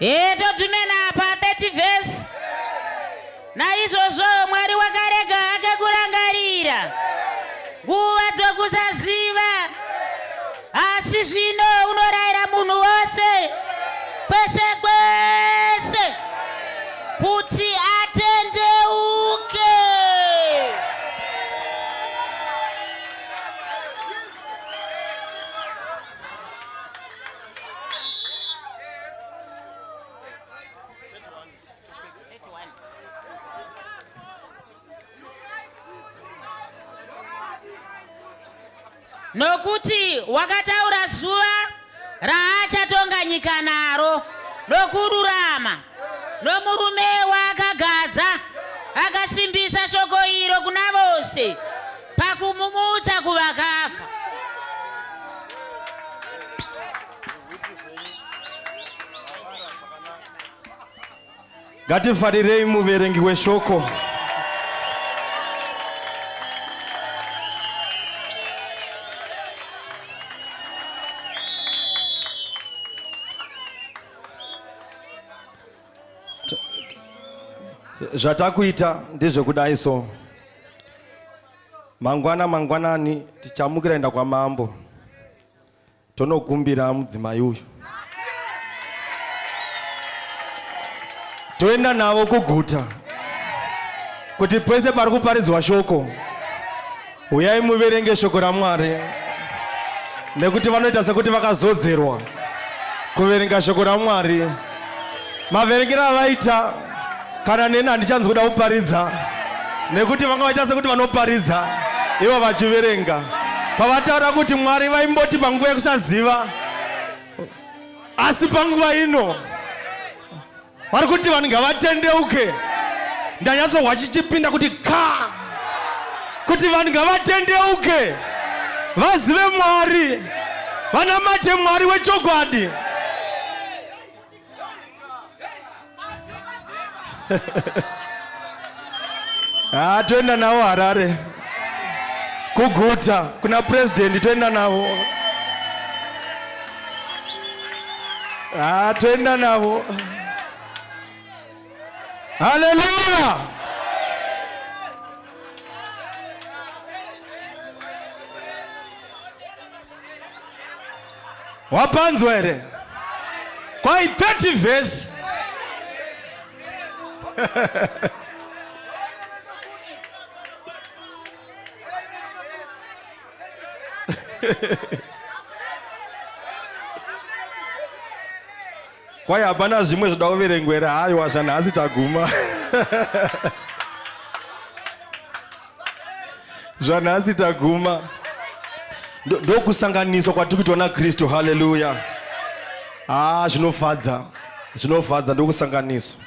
Ee todhumena apa 30 vhesi naizvozvo mwari wakarega hake kurangarira nguva dzokusaziva asi zvino unorayira munhu wose kwese kwese kuti nokuti wakataura zuva raachatonga nyika naro nokururama nomurume waakagadza akasimbisa shoko iro kuna vose pakumumutsa kuvakafa. Ngatifarirei muverengi weshoko. zvatakuita ndezvekudai so mangwana mangwanani tichamukira enda kwamambo tonokumbira mudzimai uyu toenda navo kuguta kuti pese pari kuparidzwa shoko Huyai muverenge shoko raMwari nekuti vanoita sekuti vakazodzerwa kuverenga shoko raMwari. Maverengero avaita kana neni handichanzi kuda kuparidza nekuti vanga vaita sekuti vanoparidza ivo vachiverenga. Pavataura kuti Mwari vaimboti panguva yekusaziva asi panguva ino vari kuti vanhu ngavatendeuke ndanyatsohwa chichipinda kuti ka kuti vanhu ngavatendeuke vazive mwari vanamate mwari wechokwadi Ah, toenda navo Harare kuguta kuna president toenda navo. Ah, toenda navo. Haleluya! wapanzwa here kwai 30 vhesi kwai hapana zvimwe zvoda kuverengwera hayi wazvanhasi taguma zvanhasi taguma ndokusanganiswa kwatiri kuitwa nakristu haleluya haa ah, zvinofadza zvinofadza ndokusanganiswa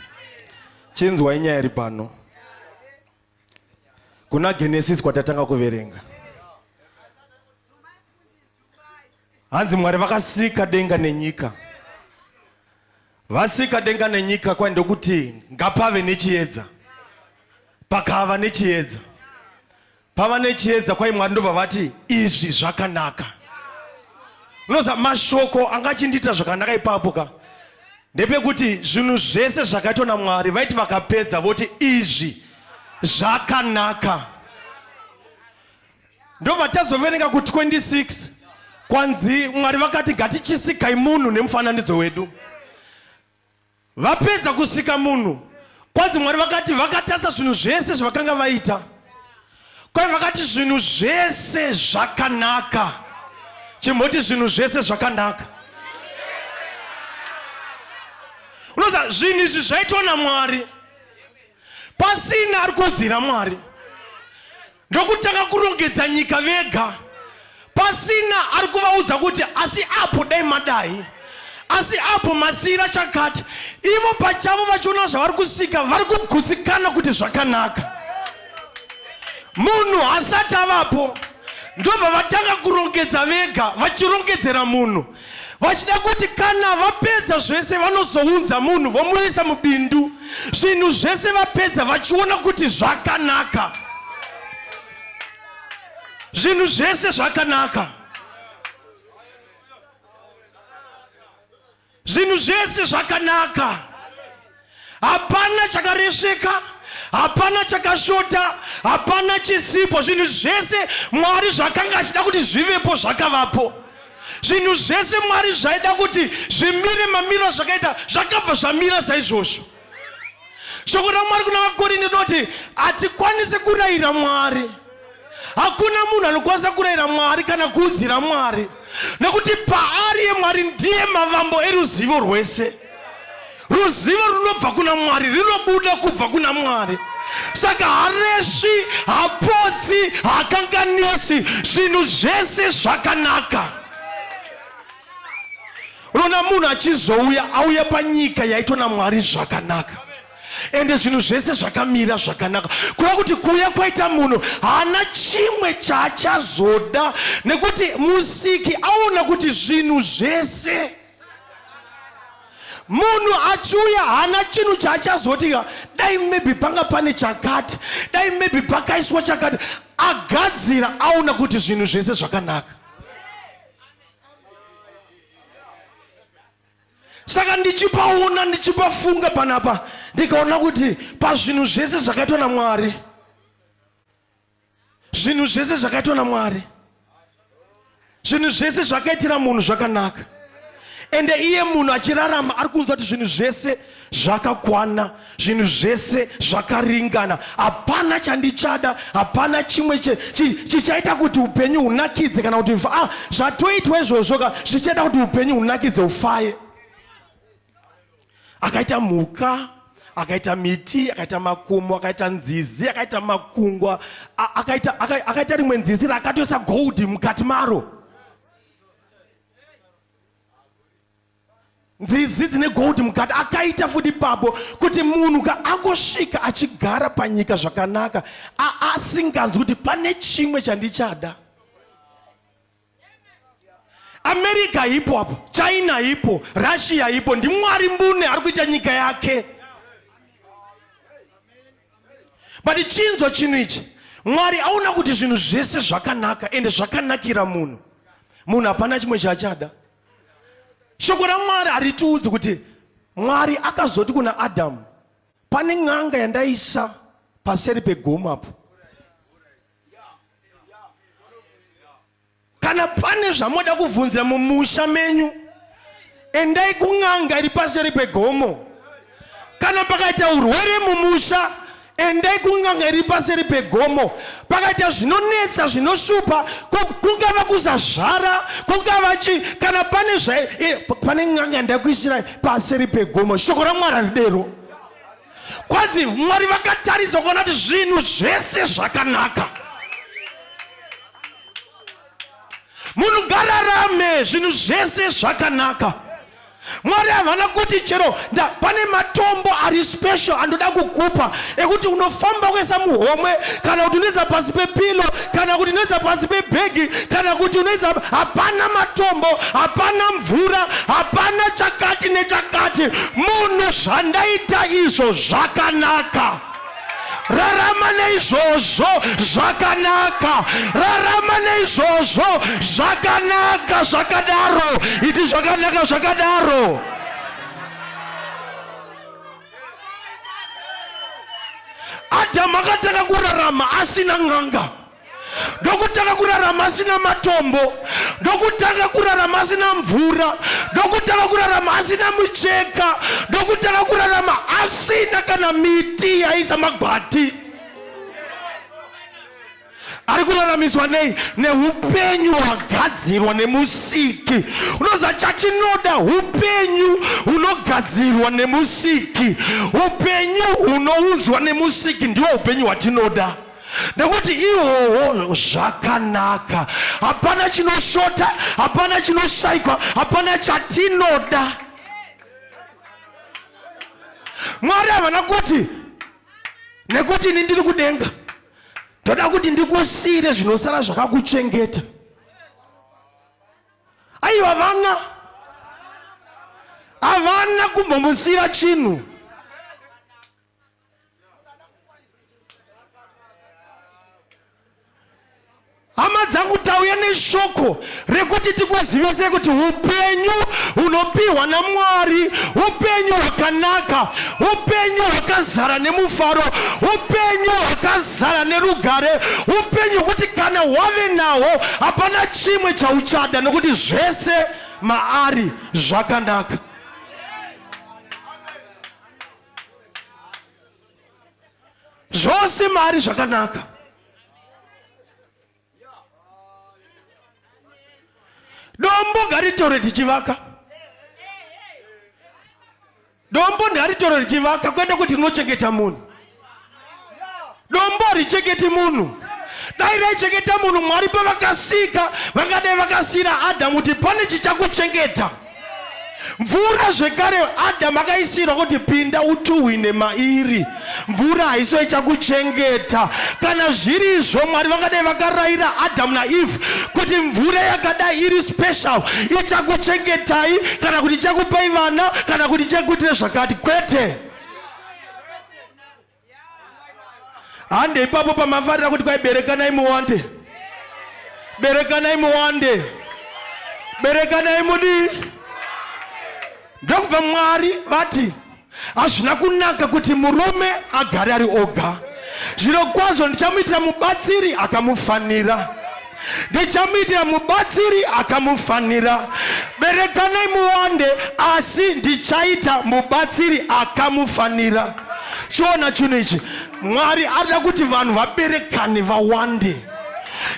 chinzwai nyaya iri pano kuna genesis kwatatanga kuverenga hanzi mwari vakasika denga nenyika vasika denga nenyika kwai ndokuti ngapave nechiedza pakava nechiedza pava nechiedza kwai mwari ndobva vati izvi zvakanaka unoza mashoko anga achindiita zvakanaka ipapo ka ndepekuti zvinhu zvese zvakaitwa namwari vaiti vakapedza voti izvi zvakanaka ndobva tazoverenga ku 26 kwanzi mwari vakati ngatichisikai munhu nemufananidzo wedu vapedza kusika munhu kwanzi mwari vakati vakatasa zvinhu zvese zvavakanga vaita kwai vakati zvinhu zvese zvakanaka chimboti zvinhu zvese zvakanaka unoza zvinhu izvi zvaitwa namwari pasina ari kuudzira mwari ndokutanga kurongedza nyika vega pasina ari kuvaudza kuti asi apo dai madai asi apo masiira chakati ivo pachavo vachiona zvavari kusika vari kugutsikana kuti zvakanaka munhu asati avapo ndobva vatanga kurongedza vega vachirongedzera munhu vachida kuti kana vapedza zvese vanozounza munhu vomuisa mubindu zvinhu zvese vapedza vachiona kuti zvakanaka zvinhu zvese zvakanaka zvinhu zvese zvakanaka hapana chakaresveka hapana chakashota hapana chisipo zvinhu zvese mwari zvakanga achida kuti zvivepo zvakavapo zvinhu zvese mwari zvaida kuti zvimire mamiro zvakaita zvakabva zvamira saizvozvo shoko ramwari kuna vakorinde rinoti hatikwanisi kurayira mwari Hakuna munhu anokwanisa kurayira Mwari kana kuudzira Mwari, nekuti paari yeMwari ndiye mavambo eruzivo rwese. Ruzivo runobva kuna Mwari, rinobuda kubva kuna Mwari. Saka haresvi, hapotsi, hakanganisi, zvinhu zvese zvakanaka. Unoona munhu achizouya, auya panyika yaitwa naMwari zvakanaka. ende zvinhu zvese zvakamira zvakanaka kureva kuti kuuya kwaita munhu haana chimwe chaachazoda nekuti musiki aona kuti zvinhu zvese munhu achiuya haana chinhu chaachazoti dai maybe panga pane chakati dai maybe pakaiswa chakati agadzira aona kuti zvinhu zvese zvakanaka saka ndichipaona ndichipafunga panapa ndikaona kuti pazvinhu zvese zvakaitwa namwari zvinhu zvese zvakaitwa namwari zvinhu zvese zvakaitira munhu zvakanaka ende iye munhu achirarama ari kunzwa kuti zvinhu zvese zvakakwana zvinhu zvese zvakaringana hapana chandichada hapana chimwe chichaita chi, kuti upenyu hunakidze kana kuti ah, zvatoitwa izvozvo ka zvichaita kuti upenyu hunakidze ufaye akaita mhuka akaita miti akaita makomo akaita nzizi akaita makungwa akaita, akaita, akaita rimwe nzizi rakatoisa gold mukati maro nzizi dzine gold mukati akaita futi papo kuti munhu ka angosvika achigara panyika zvakanaka asinganzwi kuti pane chimwe chandichada america ipo apo china ipo russia ipo ndimwari mbune ari kuita nyika yake but chinzwa chinhu ichi mwari aona kuti zvinhu zvese zvakanaka ende zvakanakira munhu munhu hapana chimwe chaachada shoko ramwari haritiudzi kuti mwari akazoti kuna adamu pane n'anga yandaisa paseri pegomo apo kana pane zvamoda kuvhunzira mumusha menyu endai kun'anga iri paseri pegomo kana pakaita urwere mumusha endai kunganga iri paseri pegomo pakaita zvinonetsa zvinoshupa kungava kuzazvara kungava chi kana pane zvae eh, pane nganga ndakuisirai paseri pegomo shoko ramwari aridero kwanzi mwari vakatarisa kuona kuti zvinhu zvese zvakanaka munhu ngararame zvinhu zvese zvakanaka mwari havana kuti chero pane matombo ari special andoda kukupa ekuti unofamba kuisa muhomwe kana kuti unoisa pasi pepilo kana kuti unoisa pasi pebhegi kana kuti unoisa hapana matombo hapana mvura hapana chakati nechakati munhu zvandaita izvo zvakanaka rarama neizvozvo zvakanaka rarama neizvozvo zvakanaka zvakadaro iti zvakanaka zvakadaro adhamu akatanga kurarama asina n'anga ndokutanga kurarama asina matombo ndokutanga kurarama asina mvura ndokutanga kurarama asina mucheka ndokutanga kurarama asina kana miti yaisa magwati ari kuraramiswa nei neupenyu hwagadzirwa nemusiki unoza chatinoda upenyu hunogadzirwa nemusiki upenyu hunounzwa nemusiki ndiwo upenyu hwatinoda nekuti ihoho zvakanaka hapana chinoshota hapana chinoshaikwa hapana chatinoda mwari havana kuti nekuti ini ndiri kudenga ndoda kuti ndikusiyire zvinosara zvakakuchengeta aiwa havana havana kumbomusiyira chinhu hama dzangu tauya neshoko rekuti tikuzivise kuti upenyu hunopiwa namwari upenyu hwakanaka upenyu hwakazara nemufaro upenyu hwakazara nerugare upenyu hwekuti kana wave nahwo hapana chimwe chauchada nekuti zvese maari zvakanaka zvose maari zvakanaka dombo ngaritore tichivaka dombo ndaritoro richivaka kwete kuti rinochengeta munhu dombo haricheketi munhu dai raichengeta munhu mwari pavakasika vangadai vakasiyira adhamu kuti pane chichakuchengeta mvura zvekare adhamu akaisirwa kuti pinda utuhwine mairi mvura haiso ichakuchengeta kana zviri izvo mwari vangadai vakarayira adhamu naeve kuti mvura yakadai iri special ichakuchengetai kana kuti ichakupai vana kana kuti ichakuitira zvakati kwete hande ipapo pamafarira kuti kwai berekanai muwande berekanai muwande berekanai mudii ndokubva mwari vati hazvina kunaka kuti murume agare ari oga zviro kwazvo ndichamuitira mubatsiri akamufanira ndichamuitira mubatsiri akamufanira berekanai muwande asi ndichaita mubatsiri akamufanira chiona chinhu ichi mwari arida kuti vanhu vaberekane vawande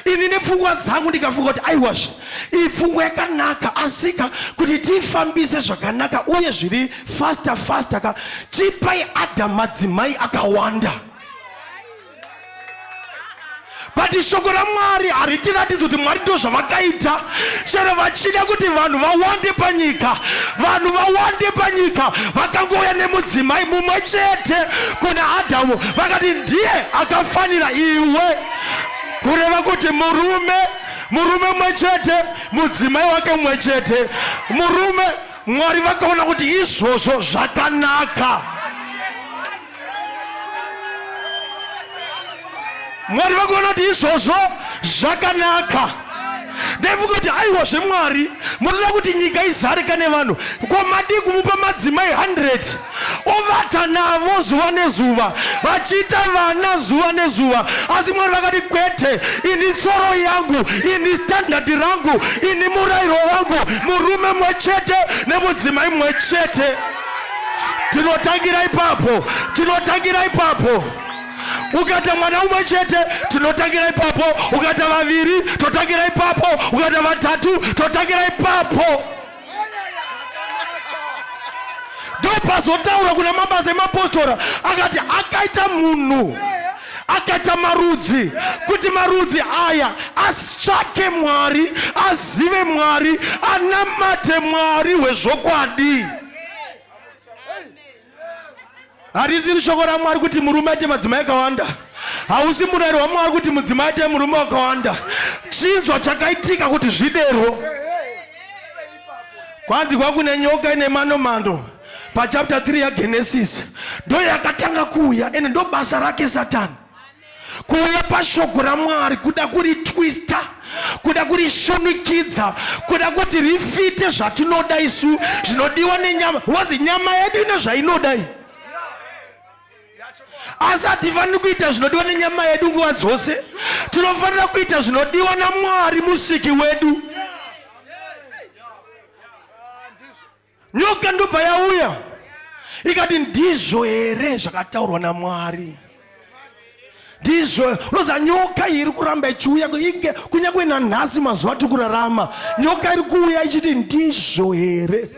ini nepfungwa dzangu ndikafunga kuti aiwazve iyi pfungwa yakanaka asika kuti tifambise zvakanaka uye zviri fasta fasta ka tipai adha madzimai akawanda but shoko ramwari haritiratidzi kuti mwari ndo zvavakaita chero vachida kuti vanhu vawande panyika vanhu vawande panyika vakangouya nemudzimai mumwe chete kuna adhamu vakati ndiye akafanira iwe kureva kuti murume murume mumwe chete mudzimai wake mumwe chete murume mwari vakaona kuti izvozvo zvakanaka mwari vakuona kuti izvozvo zvakanaka ndaifunga kuti aiwa zvemwari munoda kuti nyika izarika nevanhu ko madii kumupa madzimai 100 ovata navo zuva nezuva vachiita vana zuva nezuva asi mwari vakati kwete ini tsoro yangu ini standardi rangu ini murayiro wangu murume mwe chete nemudzimai mwe chete tinotangira ipapo tinotangira ipapo ukaita mwana umwe chete tinotangira ipapo ukaita vaviri totangira ipapo ukaita vatatu totangira ipapo ndopazotaura kuna mabasa emapostora akati akaita munhu akaita marudzi kuti marudzi aya asitsvake mwari azive mwari anamate mwari hwezvokwadi harisiri shoko ramwari kuti murume aite madzimai akawanda hausi murayiro wamwari kuti mudzimai aite murume wakawanda chinzwa chakaitika kuti zviderwo kwanzi kwakune nyoka ine manomando pachapta 3 yagenesis ndo yakatanga kuuya ende ndo basa rake satani kuuya pashoko ramwari kuda kuri twista kuda kuri shunikidza kuda kuti rifite zvatinoda isu zvinodiwa nenyama wazi nyama yedu ine zvainodai asi hatifaniri kuita zvinodiwa nenyama yedu nguva dzose tinofanira kuita zvinodiwa namwari musiki wedu nyoka ndobva yauya ikati ndizvo here zvakataurwa namwari ndizvo unoziva nyoka iri kuramba ichiuya inge kunyange nanhasi mazuva tiri kurarama nyoka iri kuuya ichiti ndizvo here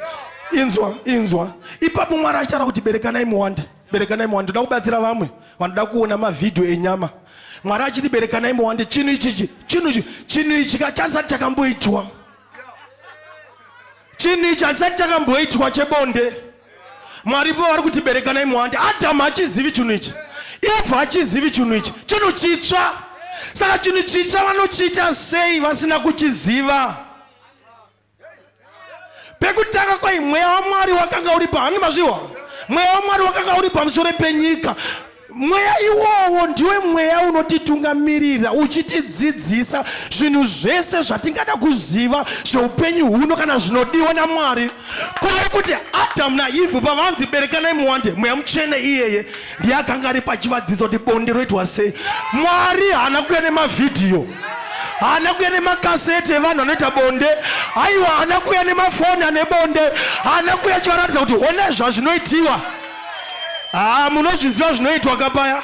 inzwa inzwa ipapo mwari achitaura kuti berekanai muwande berekanai muwande toda kubatsira vamwe vanoda kuona mavhidhiyo enyama mwari achiti berekanai muwande chinhu ichichi chinhu ichi chinhu ichi kachasati chakamboitwa chinhu ichi hachisati chakamboitwa chebonde mwari pavari kuti berekanai muwande adhamu hachizivi chinhu ichi evha hachizivi chinhu ichi chinhu chitsva saka chinhu chitsva vanochiita sei vasina kuchiziva pekutanga kwai mweya wamwari wakanga uri paani mazviwa mweya wamwari wakanga uri pamusoro penyika Mweya iwowo ndiwe mweya unotitungamirira uchitidzidzisa zvinhu zvese zvatingada kuziva zveupenyu huno kana zvinodiwa naMwari. Kureva kuti Adamu naEvhu pavanzi berekanai muwande, mweya mutsvene iyeye ndiye akanga ari pachivadzidzo kuti bonde roitwa sei. Mwari haana kuuya nemavhidhiyo haana kuya nemakaseti evanhu anoita bonde haiwa haana kuya nemafoni ane bonde haana kuya chivaratidza kuti ona zvazvinoitiwa haa munozviziva zvinoitwa kapaya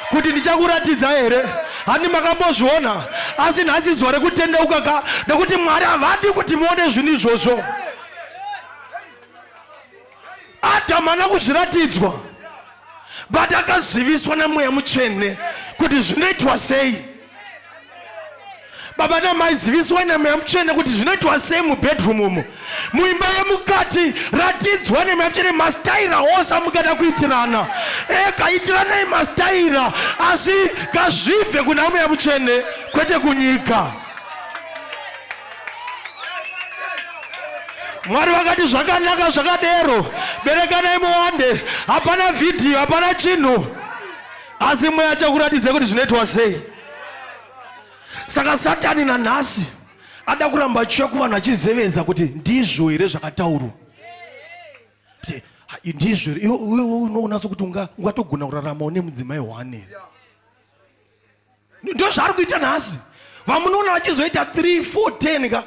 kuti ndichakuratidza here handi makambozviona asi nhasi zuva rekutendeuka ka nekuti mwari havadi kuti muone zvinhu izvozvo adam ana kuzviratidzwa but akaziviswa nemweya mutsvene kuti zvinoitwa sei baba namai ziviswai nemweya mutsvene kuti zvinoitwa sei mubedroom umo muimba yemukati ratidzwa nemweya mutsvene mastaira ose amungada kuitirana eka itiranai mastaira asi kazvibve kuna mweya mutsvene kwete kunyika mwari vakati zvakanaka zvakadero berekanai muwande hapana vhidhiyo hapana chinhu asi mweya achakuratidza kuti zvinoitwa sei saka satani nanhasi ada kuramba achiuya kuvanhu achizevedza kuti ndizvo here zvakataurwa ndizvo here iwe unoona sokuti ungatogona kurarama une mudzimai one here ndozvaari kuita nhasi vamunoona vachizoita 3 4 10 ka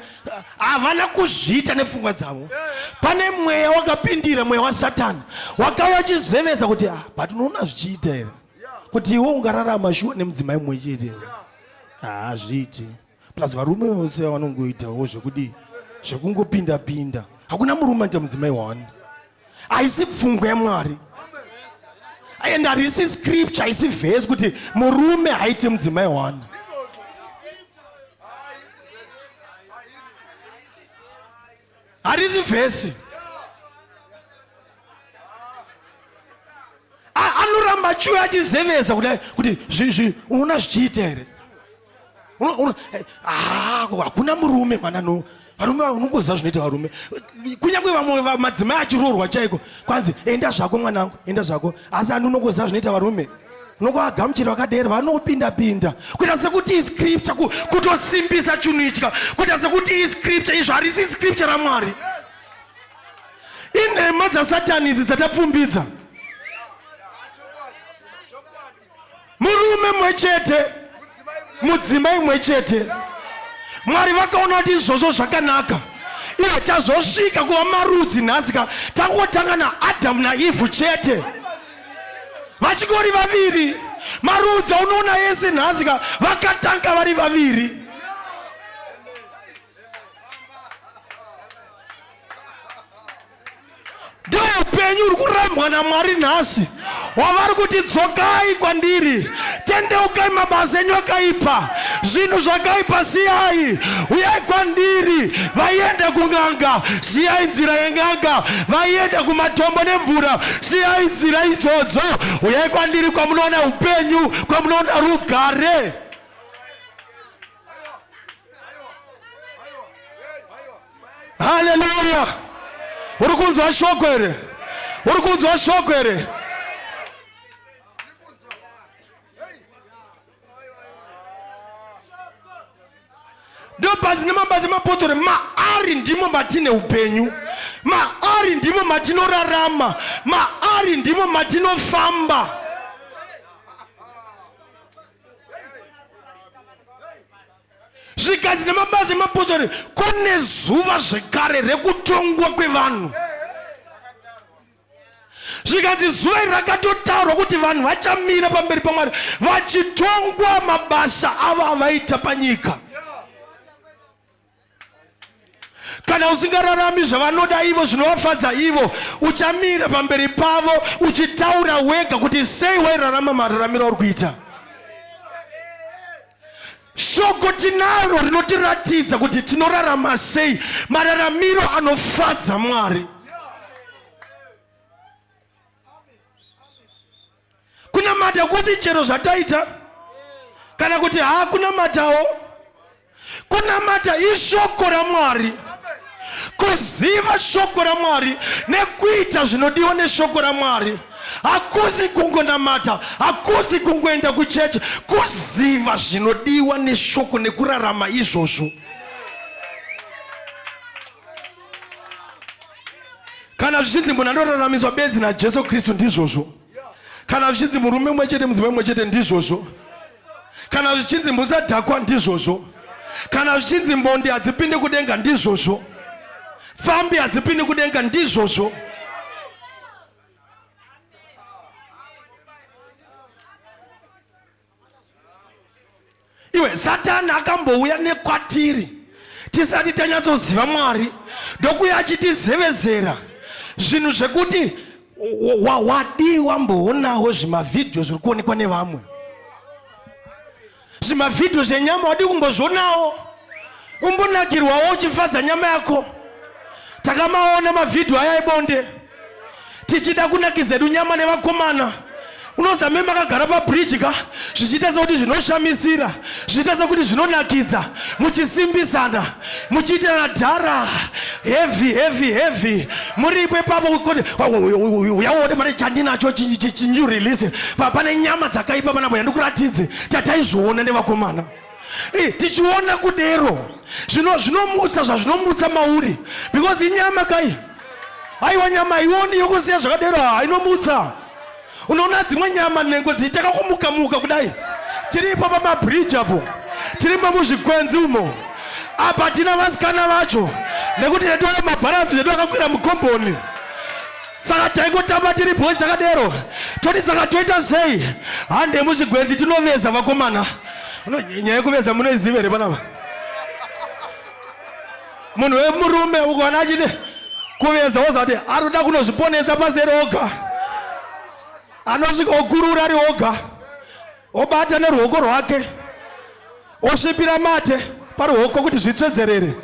havana kuzviita nepfungwa dzavo pane mweya wakapindira mweya wasatani wakauya uchizevedza kuti ah, but unoona zvichiita here kuti iwe ungararama shuwa nemudzimai mumwe chete here haazviiti ah, plus varume vose vanongoitawo zvekudii zvekungopinda pinda hakuna murume anoita mudzimai one haisi pfungwa yamwari and harisi scripture haisi vhesi kuti murume haiti mudzimai one harisi vhesi anoramba chiuya achizeveza kudai kuti zvi unoona zvichiita here eh, ah, hakuna murume mwana no varume vanongoziva zvinoita varume kunyange vamwe madzimai achiroorwa chaiko kwanzi enda zvako mwanangu enda zvako asi andi unongoziva zvinoita varume nokuagamuchira vakadero vanopinda pinda kuita sekuti iscripture kutosimbisa chinhu itya kuita sekuti iscripture izvo harisi scripture ramwari inhema dzasatani idzi dzatapfumbidza murume mwe chete mudzimai mwe chete mwari vakaona kuti izvozvo zvakanaka iye tazosvika kuva marudzi nhasi ka tangotanga naadhamu naivhu chete vachingori vaviri marudzi aunoona yese nhasi ka vakatanga vari vaviri ndeupenyu uri kurambwa namwari nhasi wavari kuti dzokai kwandiri tendeukai mabasa enyu akaipa zvinhu zvakaipa siyai uyai kwandiri vaienda kung'anga siyai nzira yeng'anga vaienda kumatombo nemvura siyai nzira idzodzo uyai kwandiri kwamunoona upenyu kwamunoona rugare haleluya uri kunzwa shoko here uri kunzwa shoko here ndobazi nemabazi mapotori maari ndimo matine upenyu maari ndimo matinorarama maari ndimo matinofamba zvigadzi nemabazi emapotsori kune zuva zvekare rekutongwa kwevanhu zvikanzi zuva iri rakatotaurwa kuti vanhu vachamira pamberi pamwari vachitongwa mabasa avo avaita panyika kana usingararami zvavanoda ivo zvinovafadza ivo uchamira pamberi pavo uchitaura wega kuti sei wairarama mararamiro auri kuita shoko tinaro rinotiratidza kuti tinorarama sei mararamiro anofadza mwari kunamata kwose chero zvataita kana kuti haakunamatawo kunamata ishoko ramwari kuziva shoko ramwari nekuita zvinodiwa neshoko ramwari hakuzi kungonamata hakuzi kungoenda kuchechi kuziva zvinodiwa neshoko nekurarama izvozvo kana zvichinzi munhu anoraramiswa bedzi najesu kristu ndizvozvo kana zvichinzi murume umwe chete mudzimai umwe chete ndizvozvo kana zvichinzi musadhakwa ndizvozvo kana zvichinzi mbondi hadzipindi kudenga ndizvozvo fambi hadzipindi kudenga ndizvozvo iwe satani akambouya nekwatiri tisati tanyatsoziva mwari ndokuya achitizevezera zvinhu zvekuti wadii wamboonawo zvimavhidhiyo zviri kuonekwa nevamwe zvimavhidhiyo zvenyama wadii kumbozvionawo umbonakirwawo uchifadza nyama yako takamaona mavhidhiyo aya ebonde tichida kunakidza edu nyama nevakomana unonzi me makagara pabridge ka zvichiita sekuti zvinoshamisira zvichiita sekuti zvinonakidza muchisimbisana muchiitirana dhara heavy heavy heavy muripo ipapo kuti uyaone pane chandinacho chinyu release pane nyama dzakaipa panapo yandikuratidze tataizviona nevakomana Eh, tichiona kudero zvino zvinomutsa zvazvinomutsa mauri because inyama kai aiwa nyama haioni yokusiya zvakadero hainomutsa unoona dzimwe nyama nhengo dziitaka kumuka muka kudai tiripo pamabridge apo tirimo muzvikwenzi umo apa tina vasikana vacho nekuti netoa mabharanzi nedu akakwira mukomboni saka taingotamba tiri boys takadero toti saka toita sei hande muzvigwenzi tinoveza vakomana No, nyaya yekuveza munoiziva here panapa? Munhu wemurume ukaona achiti kuveza wozati anoda kunozviponesa pasi eri oga. Anosvika okurura ari oga. Obata neruoko rwake. Osvipira mate paruoko kuti zvitsvedzerere.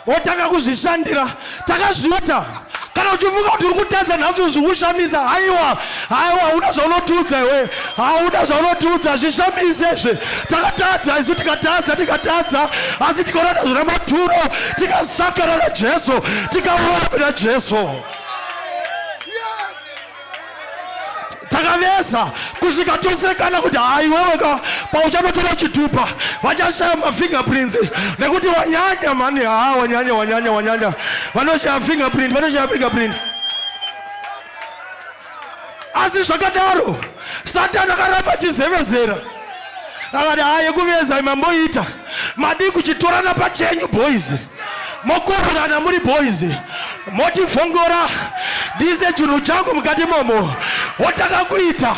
wotanga kuzvishandira takazviita kana uchifunga kuti uri kutadza nhasi zvikushamisa haiwa haiwa hauna zvaunotiudza iwe hauna zvaunotiudza zvishamise zve takatadza isu tikatadza tikatadza asi tikaona nazvo namaturo tikasakana najesu tikauya kuna jesu yes. takavesa kusvika tosekana kuti hayi wewe ka pauchanotora chitupa vachashaya mafingerprints nekuti wanyanya mani haa wanyanya wanyanya wanyanya vanoshaya fingerprint vanoshaya fingerprint asi zvakadaro satani akaramba chizevezera akati hayi kuveza mamboita madii kuchitorana pachenyu boys mokororana muri boys motivhongora dise chinhu changu mukati momo wotakakuita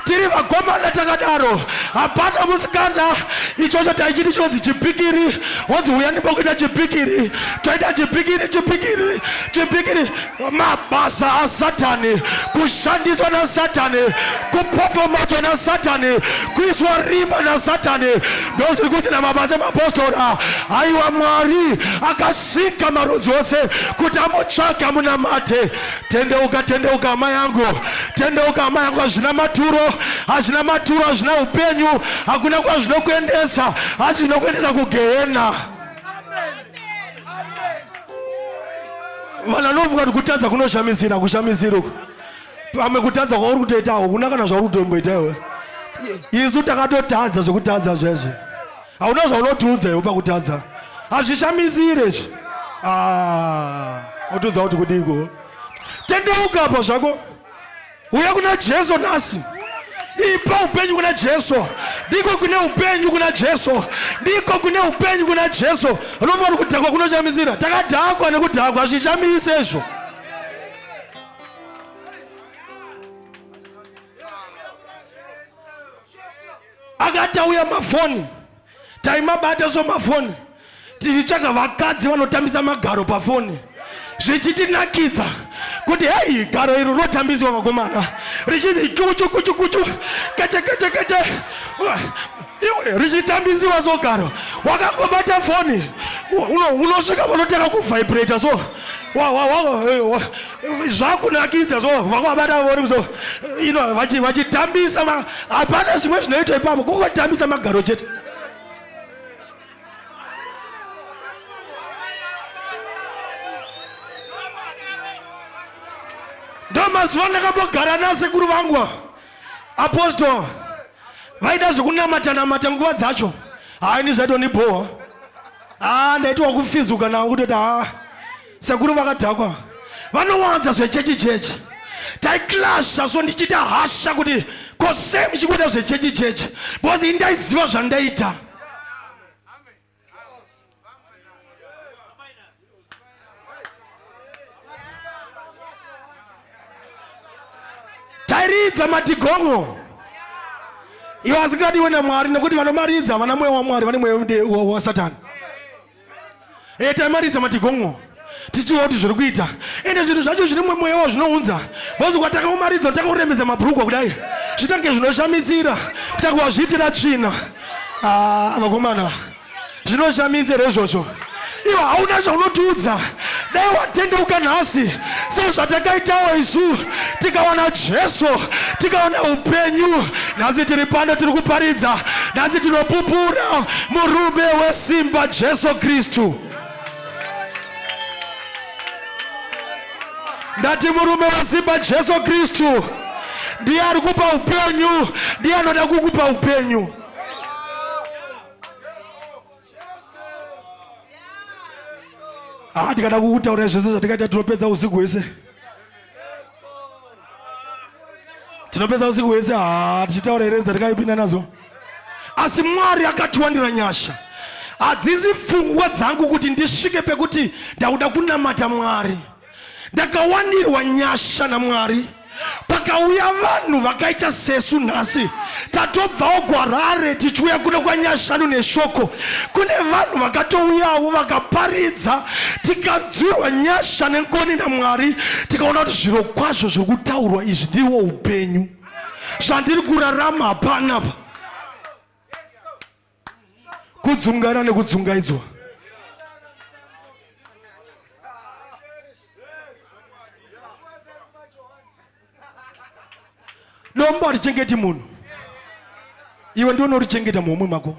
tiri vakomana takadaro hapana musikana ichocho taichiti chinonzi chipikiri wonzi huyani pokuita chipikiri toita chipikiri chipikiri chipikiri mabasa asatani kushandiswa nasatani kupopomatswa nasatani kuiswa rimba nasatani ndozviri kuti namabasa emapostora aiwa mwari akasika marudzi ose kuti amutsvake amunamate tendeuka tendeuka hama yangu tendeuka hama yangu hazvina maturo hazvina maturo hazvina upenyu hakuna kwazvinokuendesa hazvinokuendesa kugehena vanhu vanovuka kuti kutadza kunoshamisira kushamisira uku pamwe kutadza kwauri kutoitawo kuna kana zvauri kutomboita iwe isu takatotadza zvekutadza zvezvo hauna zvaunotiudza iwe pakutadza hazvishamisire izvi ah, otiudza kuti kudiko tendeuka apa zvako uya kuna jesu nhasi ipa upenyu kuna jesu ndiko kune upenyu kuna jesu ndiko kune upenyu kuna jesu anofanira kudhakwa kunochamisira takadhakwa nekudhakwa hazvichamisi izvo akatauya mafoni taimabata somafoni tichitsvaga vakadzi vanotambisa magaro pafoni zvichitinakidza kuti hei garo iri rotambiswa vakomana richinzi kuchu kuchu kuchu keche keche keche iwe richitambisiwa so garo wakangobata foni unosvika vanotanga kuvhibrata so zvakunakidza so vakuvabata vori kuso ino vachitambisa hapana zvimwe zvinoitwa ipapo kungotambisa magaro chete ndo mazuva ndakambogara nasekuru vangu apostol vaida zvekunamata namata nguva dzacho haini zvaitondibhowa haa ah, ndaitiwa kufizuka navo kutoti haa ah. sekuru vakadhakwa vanowanza zvechechi chechi taiklasha so ndichiita hasha kuti ko sei muchikuita zvechechi chechi because ini ndaiziva zvandaita tairidza matigongo iwo asingadiwe namwari nekuti vanomaridza vana mweya wamwari vane mweya wasatani e taimaridza matigongo tichiva kuti zviri kuita ende zvinhu zvacho zvine mumwe mweya wazvinounza bhozi kwatakaumaridzo takuremedza mabhurugwa kudai zvitange zvinoshamisira kutakuwa zviitira tsvina ah, vakomana zvinoshamisira izvozvo iwo hauna zvaunotiudza dai watendeuka nhasi sezvatakaitawo isu tikawana jesu tikawana upenyu nhasi tiri pano tiri kuparidza nhasi tinopupura murume wesimba jesu kristu ndati murume wesimba jesu kristu ndiye ari kupa upenyu ndiye anoda kukupa upenyu haa ah, ndikada kukutaura zvese zvatikaita tinopedza usiku hwese tinopedza usiku hwese haa ah, tichitaura here dzatikaipinda nadzo asi mwari akatiwanira nyasha hadzisi pfungwa dzangu kuti ndisvike pekuti ndakuda kunamata mwari ndakawandirwa nyasha namwari pakauya vanhu vakaita sesu nhasi tatobvawo gwarare tichiuya kuno kwanyashanu neshoko kune vanhu vakatouyawo vakaparidza tikadzurwa nyasha nenkoni namwari tikaona kuti zviro kwazvo zviri kutaurwa izvi ndiwo upenyu zvandiri kurarama hapanapa kudzungana nekudzungaidzwa dombo harichengeti munhu iwe ndiwo unorichengeta muhomwe mako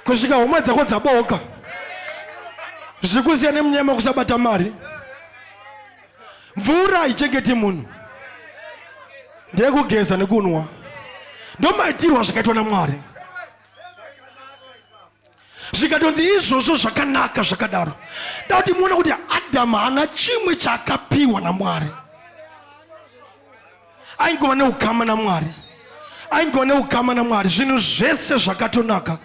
kusvika homwe dzako dzaboka zvikusiyana nemunyama kusabata mari mvura haichengeti munhu ndeyekugeza nekunwa ndomaitirwa zvakaitwa namwari zvikatonzi izvozvo zvakanaka zvakadaro da kuti muona kuti adhamu haana chimwe chaakapiwa namwari aingova neukama namwari aingova neukama namwari zvinhu zvese zvakatonaka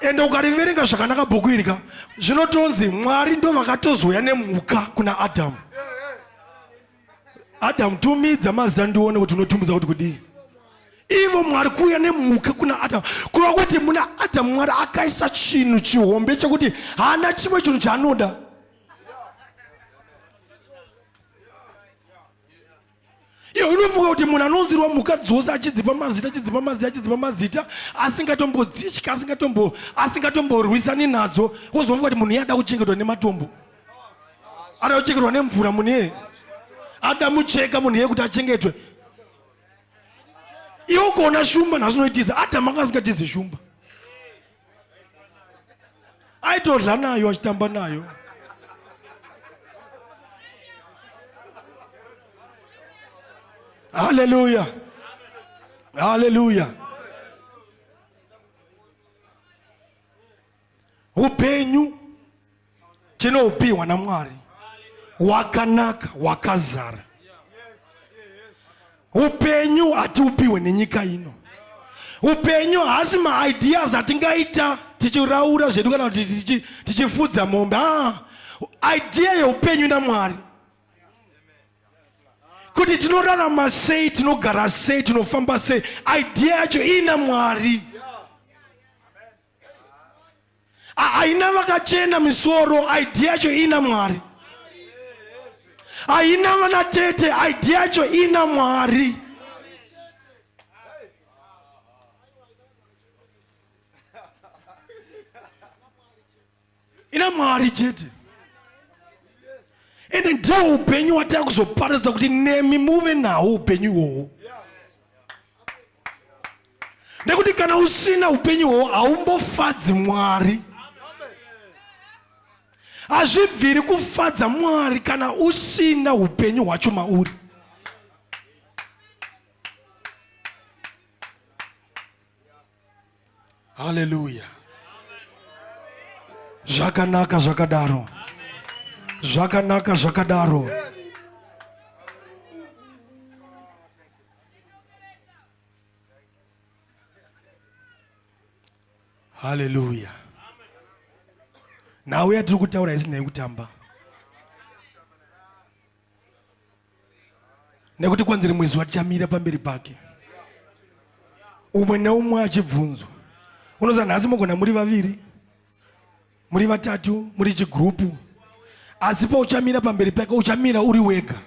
ende ukariverenga zvakanaka bhuku irika zvinotonzi mwari ndo vakatozouya nemhuka kuna adhamu adhamu tumidza mazita ndione kuti unotumidza kuti kudii ivo mwari kuuya nemhuka kuna adhamu kureva kuti muna adhamu mwari akaisa chinhu chihombe chekuti haana chimwe chinhu chaanoda Iyo unofunga kuti munhu anonzirwa mhuka dzose achidzipa mazita achidzipa mazita achidzipa mazita asingatombodzitya asingatombo asingatomborwisani nadzo wozofunga kuti munhu iye ada kuchengetwa nematombo ada kuchengetwa nemvura munhu iye ada mucheka munhu iye kuti achengetwe iwe ukaona shumba nhasi unoitiza adhama anga asingatizi shumba aitodla nayo achitamba nayo haleluya haleluya upenyu tinoupihwa namwari wakanaka wakazara upenyu hatiupihwe nenyika ino upenyu haasi maideas atingaita tichiraura zvedu kana kuti tichifudza mombe a ah, idea yeupenyu namwari kuti tinorarama sei tinogara sei tinofamba sei idea yacho iina mwari haina vakachena misoro idea yacho ina mwari haina vana tete idea yacho ina mwari ina mwari chete ende ndiwo upenyu watava kuzoparadza kuti nemi muve nawo upenyu iwowo nekuti kana usina upenyu iwowo haumbofadzi mwari hazvibviri kufadza mwari kana usina upenyu hwacho mauri haleluya zvakanaka zvakadaro zvakanaka zvakadaro haleluya nhau yatiri kutaura isinei kutamba nekuti kwanzi rimwe zuva tichamira pamberi pake umwe neumwe achibvunzwa unoza nhasi mogona muri vaviri muri vatatu muri chigrupu asi pauchamira pamberi pake uchamira uri wega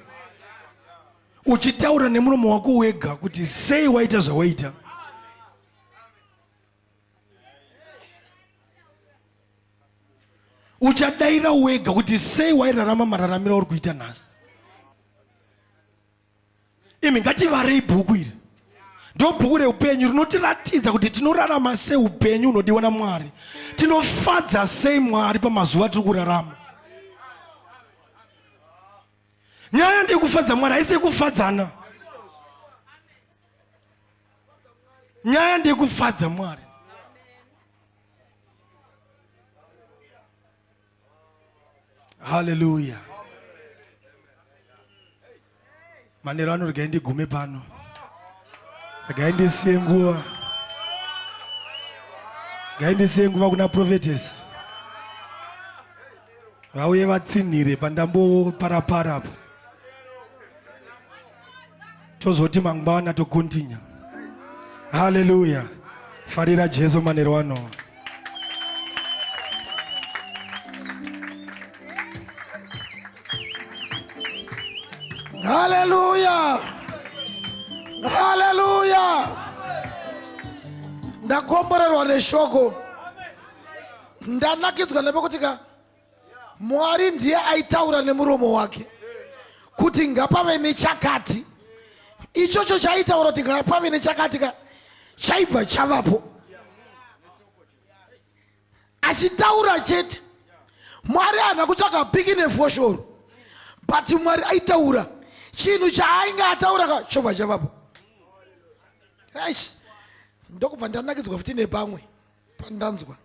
uchitaura nemuromo wako wega kuti sei waita zvawaita uchadaira wega kuti sei wairarama mararamiro auri kuita nhasi imi ngativarei bhuku iri ndobhuku reupenyu rinotiratidza kuti tinorarama sei upenyu unodiwa namwari tinofadza sei mwari pamazuva tiri kurarama nyaya ndeyekufadza mwari haisi yekufadzana nyaya ndekufadza mwari haleluya manero ano regai ndigume pano regai ndisiye nguva regai ndisiye nguva kuna profetes vauye vatsinhire pandamboparapara apa tozoti mangwana tokontinya haleluya farira jesu manero ano haleluya haleluya ndakomborerwa neshoko ndanakidzwa nepekuti ka Mwari ndiye aitaura nemuromo wake kuti ngapave nechakati. Ichocho chaitaura kuti ngapave nechakati ka chaibva chavapo. Achitaura chete. Mwari haana kutsvaga piki nefoshoro. But Mwari aitaura chinhu chaainge ataura ka chobva chavapo. Eish ndokubva ndanakidzwa futi nepamwe pandanzwa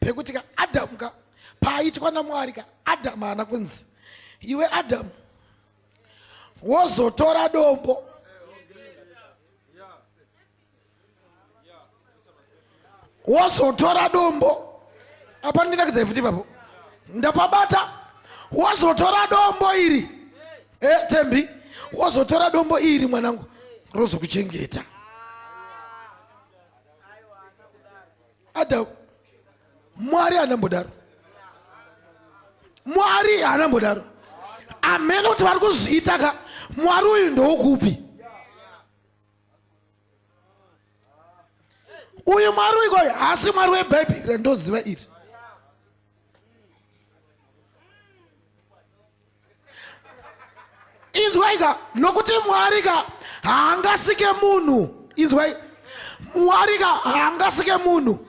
pekuti ka adamu ka paaitwa namwari ka adamu haana kunzi iwe adamu wozotora dombo wozotora dombo apa ndinakidza futi ipapo ndapabata wozotora dombo iri e tembi wozotora dombo iri mwanangu rozokuchengeta Adam, Mwari haana mbodaro. Mwari haana mbodaro. Ameno kuti vari kuzviita ka Mwari uyu ndookupi? Uyu Mwari uyu kwayo haasi Mwari weBhaibheri randoziva iri. inzwai ka nokuti mwari ka haangasike munhu inzwai mwari ka haangasike munhu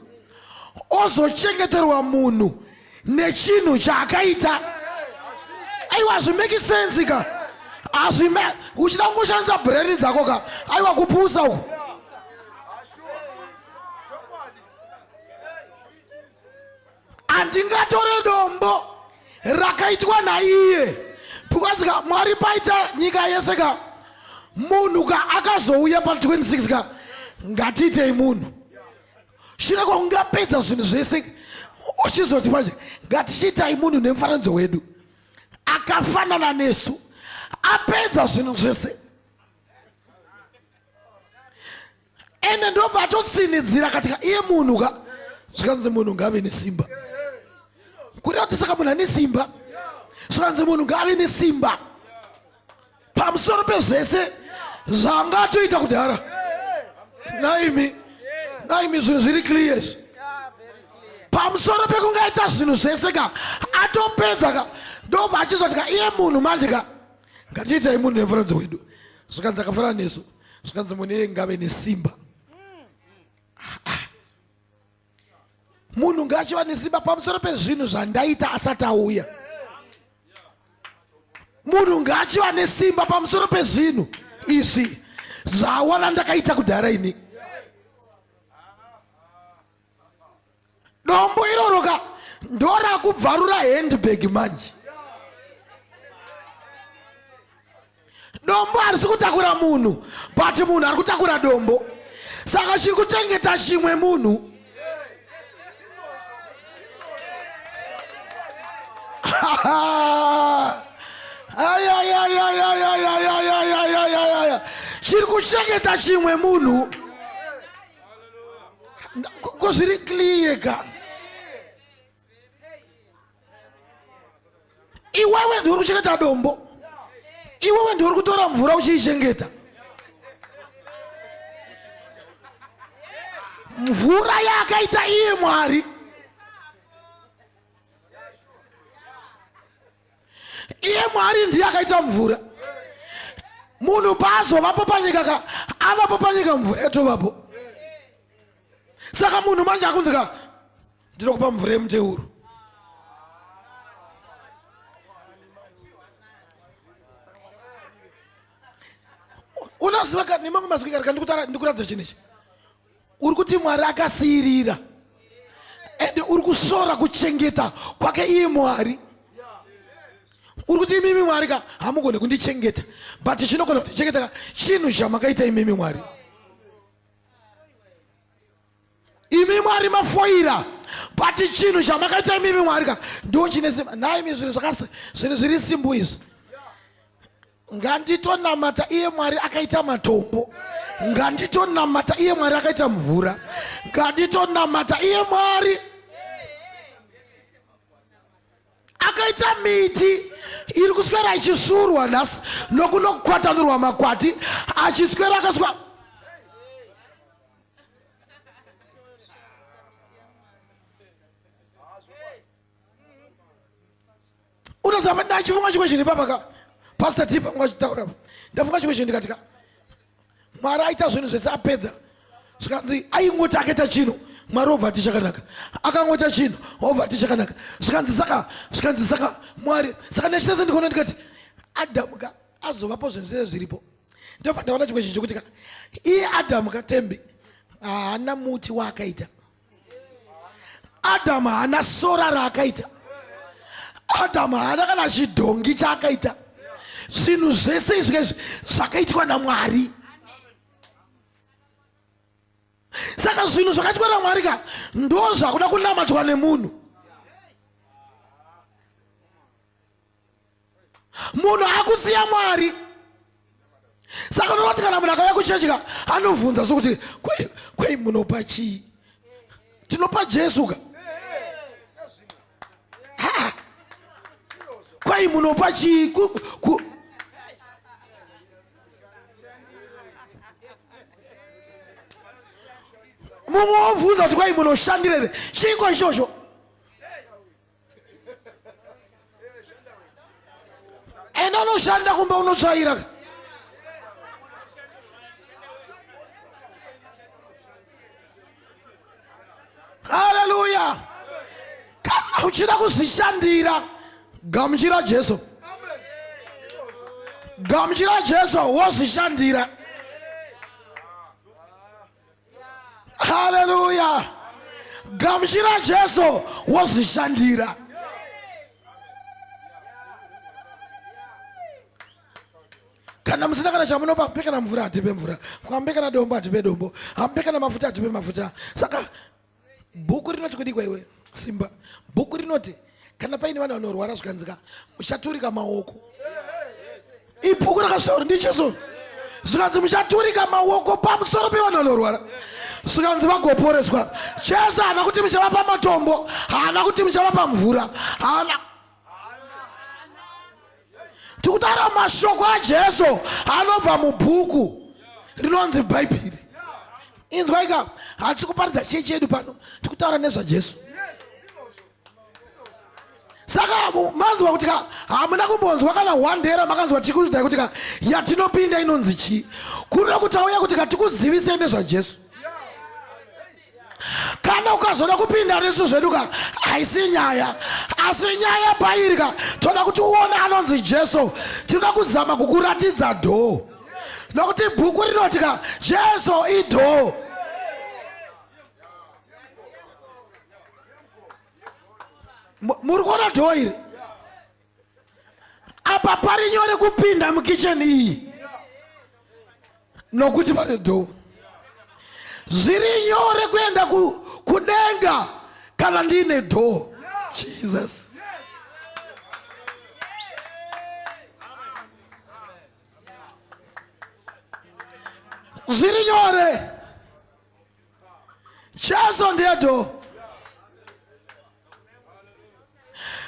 ozochengeterwa munhu nechinhu chaakaita aiwa hazvimeki sensi ka hazvime uchida kungoshandisa breni dzako ka aiwa kupusa uku andingatore dombo rakaitwa naiye because ka mwari paita nyika yese ka munhu ka akazouya pa 26 ka ngatiitei munhu shure kwaungapedza zvinhu zvese uchizoti manje ngatichiitai munhu nemufananidzo wedu akafanana nesu apedza zvinhu zvese ende ndobva atotsinidzira katika iye munhu ka zvikanzi munhu ngaave nesimba kureva kuti saka munhu ane simba zvikanzi munhu ngaave nesimba pamusoro pezvese zvanga atoita kudhara naimi naimi zvinhu zviri clear izvi pamusoro pekungaita zvinhu zvese ka atopedza ka ndobva achizoti ka iye munhu manje ka ngatiitai munhu nemufananidzo wedu zvikanzi akafanana nesu zvikanzi mune ngave nesimba munhu ngaachiva nesimba pamusoro pezvinhu zvandaita asati auya munhu ngaachiva nesimba pamusoro pezvinhu izvi zvawana ndakaita kudhara ini dombo iroro ka ndorakubvarura handbag manje dombo harisi kutakura munhu but munhu ari kutakura dombo saka chiri kuchengeta chimwe munhu chiri kuchengeta chimwe munhu ko zviri clear ka iwewe ndiuri kuchengeta dombo iwewe ndiuri kutora mvura uchiichengeta mvura yaakaita iye mwari iye mwari ndiye akaita mvura munhu paazovapo panyika ka avapo panyika mvura yatovapo saka munhu manje akunzi ka ndinokupa mvura yemuteuro unoziva ka nemamwe mazwi karika ndikuratidza chinhu ichi uri kuti mwari akasiirira ende uri kushora kuchengeta kwake iye mwari uri kuti imimi mwari ka hamugone kundichengeta but chinogona kundichengeta ka chinhu chamakaita imimi mwari imi mwari mafoira but chinhu chamakaita imimi mwari ka ndo chine simba nhaimi zvinhu zvakasi zvinhu zviri simbu izvi nganditonamata iye mwari akaita matombo nganditonamata iye mwari akaita mvura nganditonamata iye mwari akaita miti iri kuswera ichisvuurwa nhasi nokuno kukwatanurwa makwati achiswera akaswa unoziva ndachifunga chimwe chinhu ipapa ka pastor tipa kunga chitaura ndafunga chimwe chinhu ndikati ka mwari aita zvinhu zvese apedza zvikanzi aingoti akaita chinhu mwari obva ati chakanaka akangoita chinhu obva ati chakanaka zvikanzi saka zvikanzi saka mwari saka nechitese ndikaona ndikati adamu ka azovapo zvinhu zvese zviripo ndobva ndaona chimwe chinhu chokuti ka iye adamu katembi haana muti waakaita adamu haana sora raakaita adamu haana kana chidhongi chaakaita zvinhu zvese izvi izvi zvakaitwa namwari saka zvinhu zvakaitwa namwari ka ndo zvakuda kunamatwa nemunhu munhu akusiya mwari saka unonoti kana munhu akauya kuchechi ka anobvunza sokuti kwei munopa chii tinopa jesu ka kwai munopa chii mumwe wobvunza kuti kwai munoshandirere chiiko ichocho enda unoshanda kumba unotsvaira haleluya kana uchida kuzvishandira gamuchira jesu gamuchira jesu wozvishandira haleluya gamuchira jesu wozvishandira kana musina kana chamunopa hambe kana mvura hatipe mvura hambe kana dombo hatipe dombo hambe kana mafuta hatipe mafuta saka bhuku rinoti kudikwa iwe simba bhuku rinoti kana paine vanhu vanorwara zvikanzika muchaturika maoko ibhuku rakasvauri ndicheso zvikanzi muchaturika maoko pamusoro pevanhu vanorwara zvikanzi vagoporeswa cheso haana kuti muchavapa matombo haana kuti muchavapa mvura haana tikutaura mashoko ajesu anobva mubhuku rinonzi bhaibheri inzwaika hatisi kuparidza chie chedu pano tikutaura nezvajesu saka manzwa kuti ka hamuna kumbonzwa kana one day ramakanzwa tikuudai kuti ka yatinopinda inonzi chii kurira kuti auya kuti ka tikuzivisei nezvajesu kana ukazoda kupinda nesu zvedu ka haisi nyaya asi nyaya pairi ka toda kuti uone anonzi jesu tinoda kuzama kukuratidza dhoo nokuti bhuku rinoti ka jesu idhoo muri kuona dhoo iri apa pari nyore kupinda mukicheni iyi nokuti pane dhoo zviri nyore kuenda kudenga kana ndiine dhoo jesus zviri nyore Jesu ndiye door.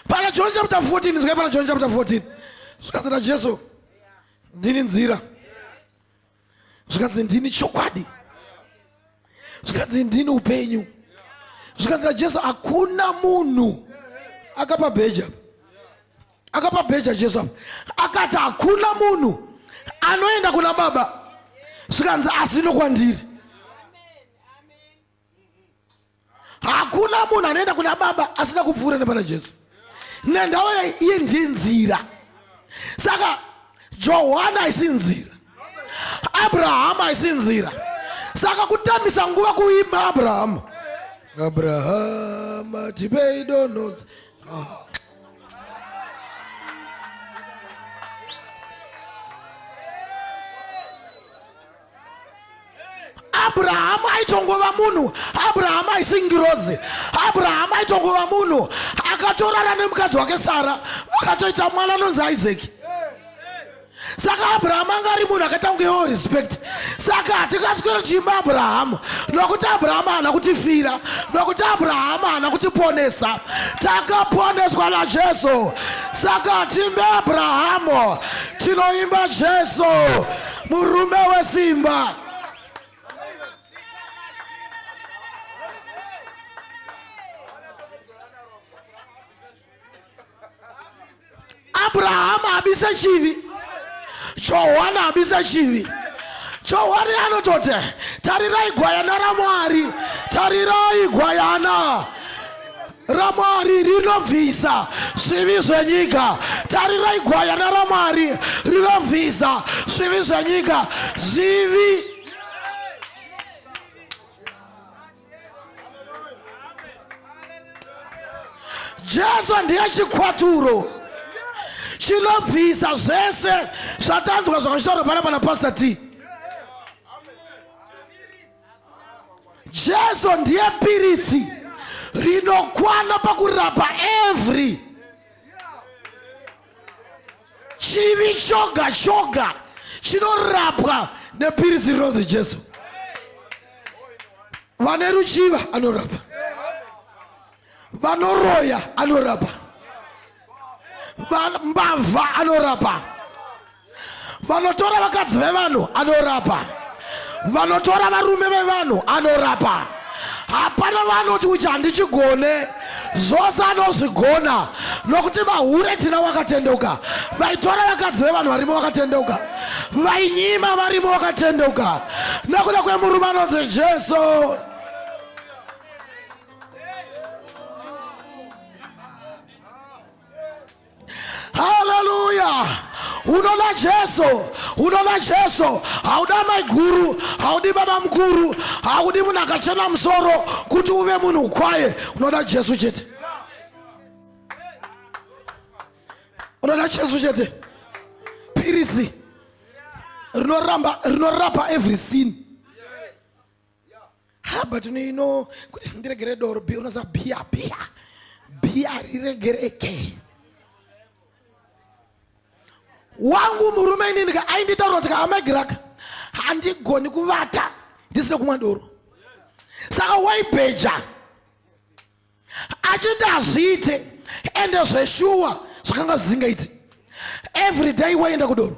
Pana John chapter 14, zvikai pana John chapter 14. Zvikanzi naJesu, ndini nzira. Zvikanzi ndini chokwadi. Zvikanzi ndini upenyu. Zvikanzi naJesu, hakuna munhu akapa bheja. akapa bheja jesu apa akati hakuna munhu anoenda kuna baba zvikanzi asi nokwandiri hakuna munhu anoenda kuna baba asina kupfuura nepana jesu nendawa iye ndiye nzira saka johani haisi nzira abrahamu haisi nzira saka kutambisa nguva kuimba abrahamu abrahama tipei donozi ah. abrahamu aitongova munhu abrahamu aisingirozi abrahamu aitongova munhu akatorara nemukadzi wake sara vakatoita mwana anonzi isaki saka abrahamu anga ari munhu akaita kunge wo respect saka hatingaswere tichiimba abrahamu nokuti abrahamu haana kutifira nokuti abrahamu haana kutiponesa takaponeswa najesu saka timbe abrahamu tinoimba jesu murume wesimba abrahamu abisa chivi johwani abisa chivi johwani anototi tarirai gwayana ramwari tarirai gwayana ramwari rinobvisa zvivi zvenyika tarirai gwayana ramwari rinobvisa zvivi zvenyika zvivi jesu ndiye chikwaturo chinobvisa zvese zvatanzwa zvakachitaurwa pana pana pastor t jesu ndiye piritsi rinokwana pakurapa every chivi choga choga chinorapwa nepiritsi rinonzi jesu vane ruchiva anorapa vanoroya anorapa mbavha anorapa vanotora vakadzi vevanhu anorapa vanotora varume vevanhu anorapa hapana vanoti uchi handichigone zvose anozvigona nokuti vahure tina wakatendeuka vaitora vakadzi vevanhu varimo vakatendeuka vainyima varimo vakatendeuka nokuda kwemurume anonzi jesu haleluya unoda jesu unoda jesu hauda maiguru haudi baba mukuru haudi munhu akachena musoro kuti uve munhu ukwaye unoda jesu chete unoda jesu chete piritsi rinoramba rinorapa every sin ha but no you know kuti ndiregere doro bi unoziva biya biya biya riregereke wangu murume inini ka ainditaura kuti ka amegiraka handigoni kuvata ndisina kumwa doro saka waibheja achiti hazviite ende zveshuwa zvakanga zvisingaiti every day waienda kudoro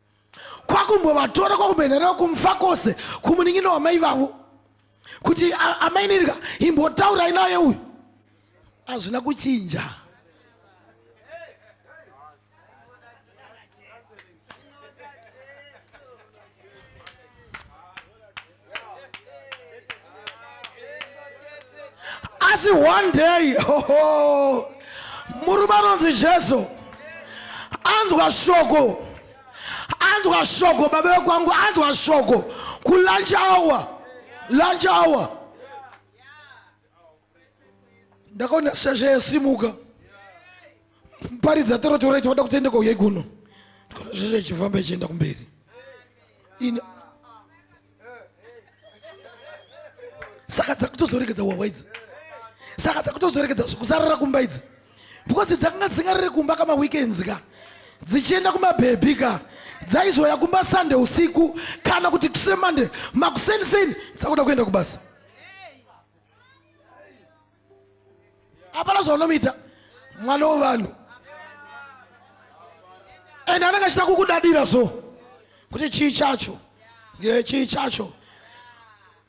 kwakumbovatora kwakumboenda navo kumfa kwose kumunin'ina wamai vavo kuti amai nirika imbotaurai naye uyu hazvina kuchinja asi one day oho murume anonzi jesu anzwa shoko anzwa shoko baba vekwangu anzwa shoko kulunch hour lunch hour ndakaona shasha yasimuka paridza torotora ichivada kutenda kwauya ikono ndikaona shasha ichifamba ichienda kumberi ini saka dzakutozoregedza wawa idzi saka dzakutozoregedza zvekusarira kumba idzi because dzakanga dzisingariri kumba kama weekends ka dzichienda kumabhebhi ka dzaizoya kumba sunday usiku kana kuti tusemande makuseni seni dzakuda kuenda kubasa hapana zvaunomuita mwana wevanhu and anenge achida kukudadira so kuti chii chacho chii chacho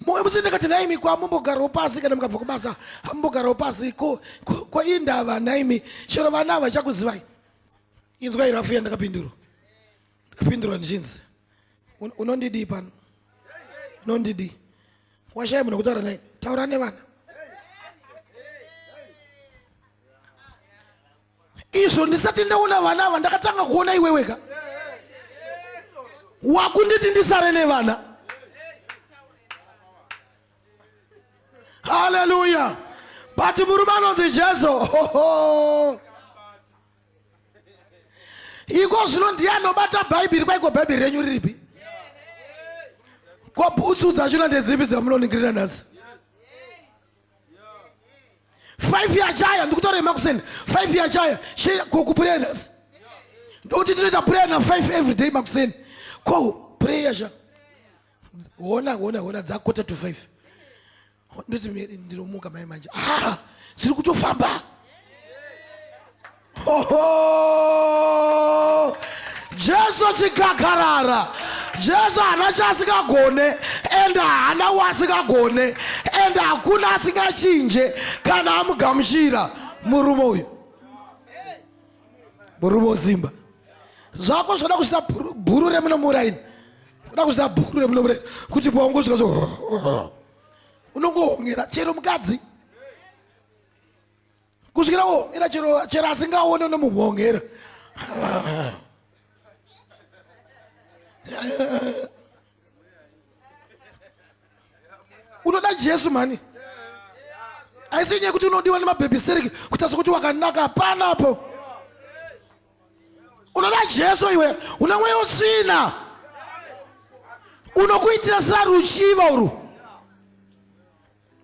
musindikati naimi kwa mumbogarawo pasi kana mukabva kubasa hamumbogarawo pasi ko ko indava naimi chero vana havachakuzivai inzwa irafu yandakapindurwa ndapindura ndichinzi unondidii pano unondidii washaya munhu wekutaura naye taura nevana izvo ndisati ndaona vana ava ndakatanga kuona iweweka wakunditi ndisare nevana haleluya but murume anonzi jesu iko zvino ndiye anobata bhaibheri kwaiko bhaibheri renyu riripi ko bhutsu dzachona ndedzipi dzamunoningirira nhasi five yachaya ndikutora emakuseni five yachaya she ko kupureya nhasi ndokuti tinoita pureya na five every day makuseni ko pureya sha hona hona hona dzakota to five ndoti ndinomuka mai manje ah ziri kutofamba oho jesu chikakarara jesu hana chaasingagone and hana waasingagone and hakuna asingachinje kana amugamuchira murume uyu murume wezimba zvako zvoda kuzvita bhuru remunomuraini oda kuzvita bhuru remunomuraini kuti paungosvika so unongohongera chero mukadzi kusvikira wohongera chero chero asingaone unomuhongera unoda jesu mhani aisi nyaya kuti unodiwa nemabhebhisteriki kutasa kuti wakanaka hapana apo unoda jesu iwe une mweya usina unokuitira sera ruchiva uru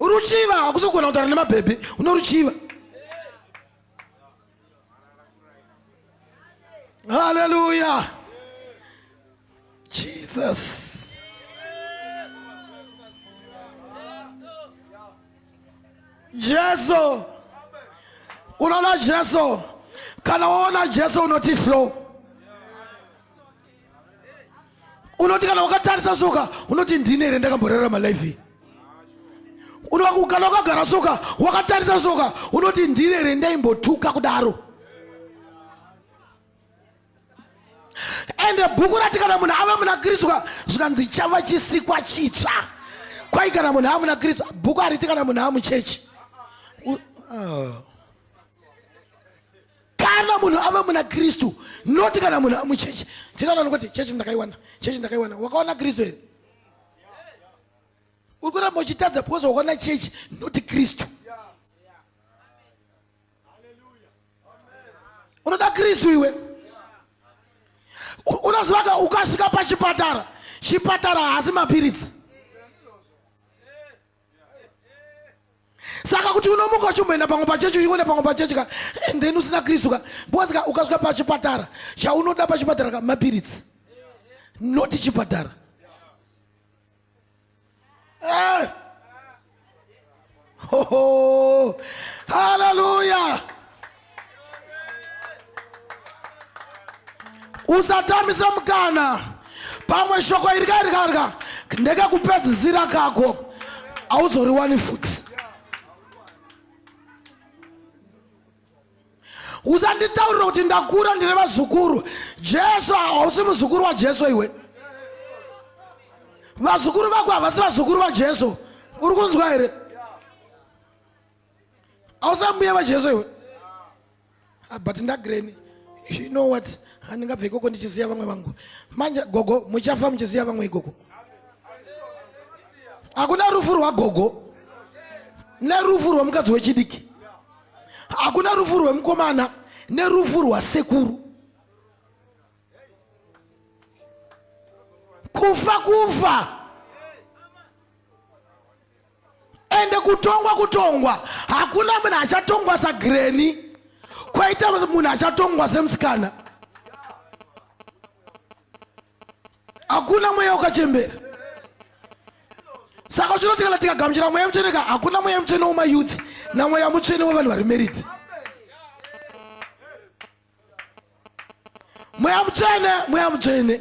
ruchiva hakusogona kutara nemabhebhi unoruchiva Hallelujah. Jesus. Jesu. Unaona Jesu. Kana waona Jesu unoti flow. unoti kana ukatarisa soka unoti ndine here ndakamborarama life iyi unokugana ukagara soka wakatarisa soka unoti ndine here ndaimbotuka kudaro ende bhuku rati kana munhu ava muna kristu zvikanzi chava chisikwa chitsva kwai kana munhu ava muna kristu bhuku hariti kana munhu ava muchechi uh. kana munhu ave muna kristu noti kana munhu amuchechi tinoona nokuti chechi ndakaiwana chechi ndakaiwana wakaona kristu here uri kuramba uchitadza because wakaona chechi noti kristu unoda kristu iwe unozivaka ukasvika pachipatara chipatara haasi mapiritsi saka kuti unomuka uchimboenda pamwe pachechi uchienda pamwe pachechi ka and then usina kristu ka because ka ukasvika pachipatara chaunoda pachipatara ka mapiritsi noti chipatara eh. haleluya usatambisa mukana pamwe shoko iri kairikarika ndekekupedzisira kako hauzoriwani futi usanditaurira kuti ndakura ndine vazukuru jesu hausi muzukuru wajesu iwe vazukuru vako havasi vazukuru vajesu uri kunzwa here ausambuya vajesu iwe ah, but ndagreni you know what handingabve ikoko ndichiziva vamwe vangu manje gogo muchafa muchiziva vamwe ikoko hakuna rufu rwagogo nerufu rwemukadzi wechidiki hakuna rufu rwemukomana nerufu rwasekuru kufa kufa ende kutongwa kutongwa hakuna munhu achatongwa sagreni kwaita munhu achatongwa semusikana hakuna mweya wakachembera saka chinoti kana tikagamuchira mweya mutsvene ka hakuna mweya mutsvene wemayouth namweya mutsvene wevanhu vari merit mweya mutsvene mweya mutsvene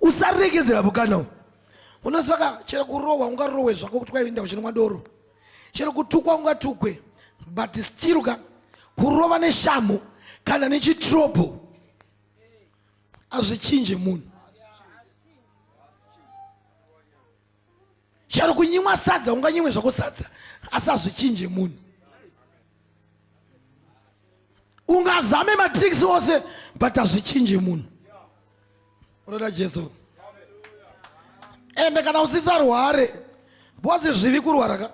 usaregedzera mukana uyu unosaka chero kurohwa ungarohwe zvako kuti kwaienda kuchinwa doro chero kutukwa ungatukwe but still ka kurova neshamhu kana nechitrobho azvichinje munhu chero kunyimwa sadza unganyimwe zvako sadza asi hazvichinje munhu ungazame matricks ose but hazvichinje munhu unoda jesu ende kana usisarware bhozi zvivi kurwara ka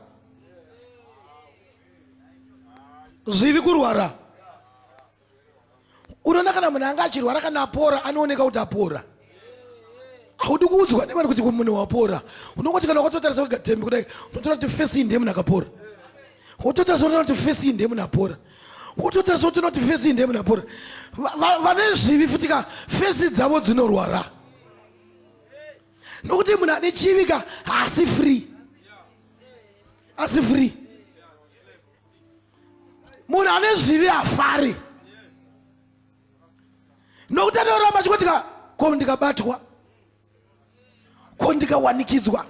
zvivi kurwara unoona kana munhu anga achirwara kana apora anooneka kuti apora haudi kuudzwa nevanhu kuti munhu wapora unongoti kana wakatotarisa wega tembi kudai unotora kuti fesi iyi ndiye munhu akapora wototarisa unoona kuti fesi iyi ndiye munhu apora wototarisa kuti unoti fesi iyi ndiye munhu apora vane zvivi futi ka fesi dzavo dzinorwara nokuti munhu ane chivi ka haasi free asi free munhu ane zvivi hafari nokuti anoramba achikotika ko ndikabatwa ko ndikawanikidzwa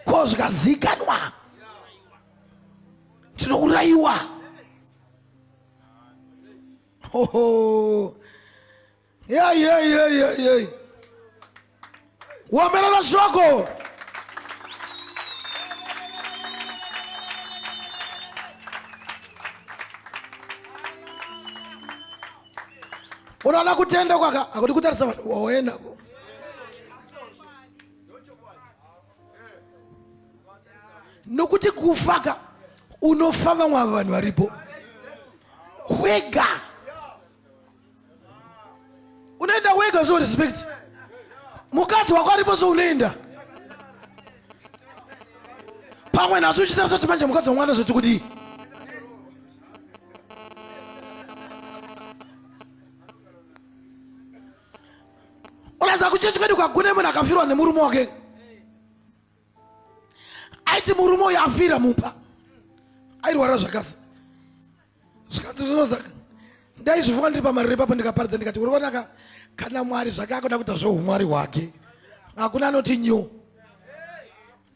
ko zvikazikanwa tinourayiwa hoho yeyeyeyeyey womerera shoko unoona kutenda kwaka akuti kutarisa vanhu waoendako nokuti kufaka unofa vamwe ava vanhu varipo wega unoenda wega so respect mukadzi wako aripo so unoenda pamwe nhasi uchitarisa kuti manje mukadzi wamwana zvoti kudii unaza kuchechi kwedu kwagune munhu akafirwa nemurume wake aiti murume uyo afira mumba airwara zvakasa zvikanzi zvinozaka ndaizvifunga ndiri pamariro ipapo ndikaparidza ndikati uri kuonaka kana mwari zvake akuda kuita zveumwari hwake hakuna anoti nyo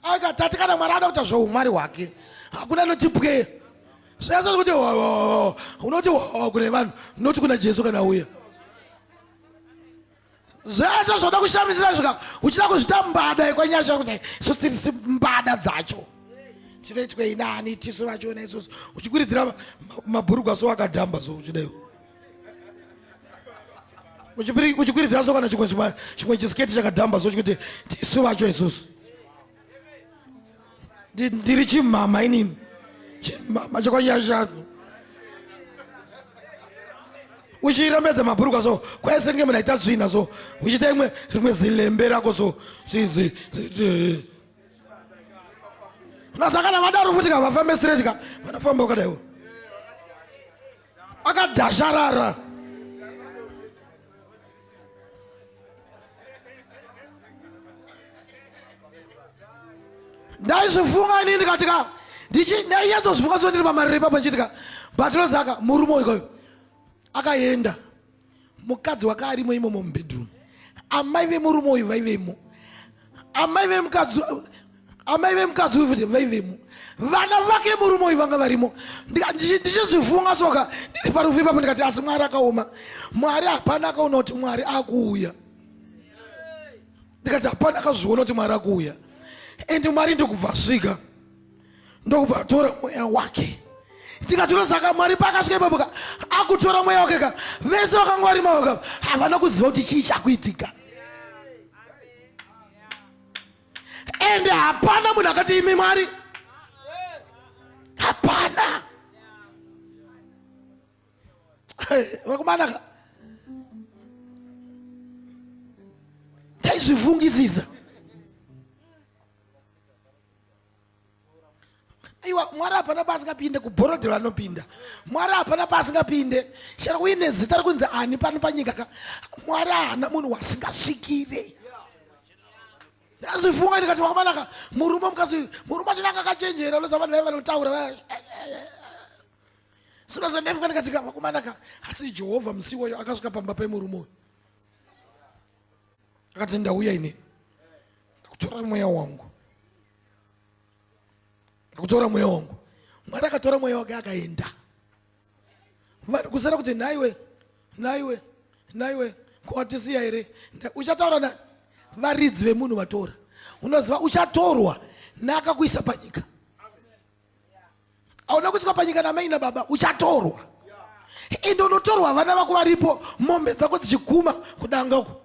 akatati kana mwari anoita zveumwari hwake hakuna anoti pwe zvese kuti unoti kune vanhu mnoti kuna jesu kana uya zvese zvoda kushamisira zvika uchida kuzvita mbada yekwanyasha kuti isu tirisi mbada dzacho chinoitwei nani tisu vachiona isusu uchikwiridzira mabhurugwa so wakadhamba so uchidaiwo uchikwiridzira so kana chimwe chisiketi chakadhamba so chikuti tisu vacho isusu ndiri chimhama inini chimhama chekwanyashanu uchirembedza mabhurukwa so kwaisenge munhu aita tsvina so uchiita imwe rimwe zilembe rako so sizi unasakana vadaro futi ka vafambe straight ka vanofamba wakadaiwo akadhasharara ndaizvifunga ini ndikatika ndainyatsozifunga so ndiri pamariri papa chitika but rozaka murume uyu akaenda mukadzi wake arimo imomo mubedroom amai vemurume uyu vaivemo amai vemukadzi amai vemukadzi uyu futi vaivemo vana vake murume uyu vanga varimo ndichizvifunga soka ndiri parufu ipapo ndikati asi mwari akaoma mwari hapana akaona kuti mwari akuuya ndikati hapana akazviona kuti mwari akuuya and mwari ndikubvasvika ndokubva atora mweya wake tikatora saka mwari paakasvika ipapo ka akutora mweya wake ka vese vakanga vari mavo ka havana kuziva kuti chii chakuitika ende hapana munhu akati imi mwari hapana vakomana ka taizvifungisisa aiwa mwari hapana paasingapinde kubhorodhero anopinda mwari hapana paasingapinde chero uine zita rekunzi ani pano panyika ka mwari haana munhu wasingasvikire ndazvifunga ndikati makamanaka murume mukati murume achinaka akachenjera unoza vanhu vaiva vanotaura vaya sinoza ndaifunga ndikati ka makamanaka asi jehovha musiwoyo akasvika pamba pemurume uyu akati ndauya inini ndakutora mweya wangu ndakutora mweya wangu mwari akatora mweya wake akaenda vanhu kusara kuti nhaiwe nhaiwe nhaiwe kwatisiya here uchataura nani varidzi vemunhu vatora unoziva uchatorwa naakakuisa panyika auna kutsika panyika namai nababa uchatorwa ende unotorwa vana vako varipo mombe dzako dzichiguma kudanga uko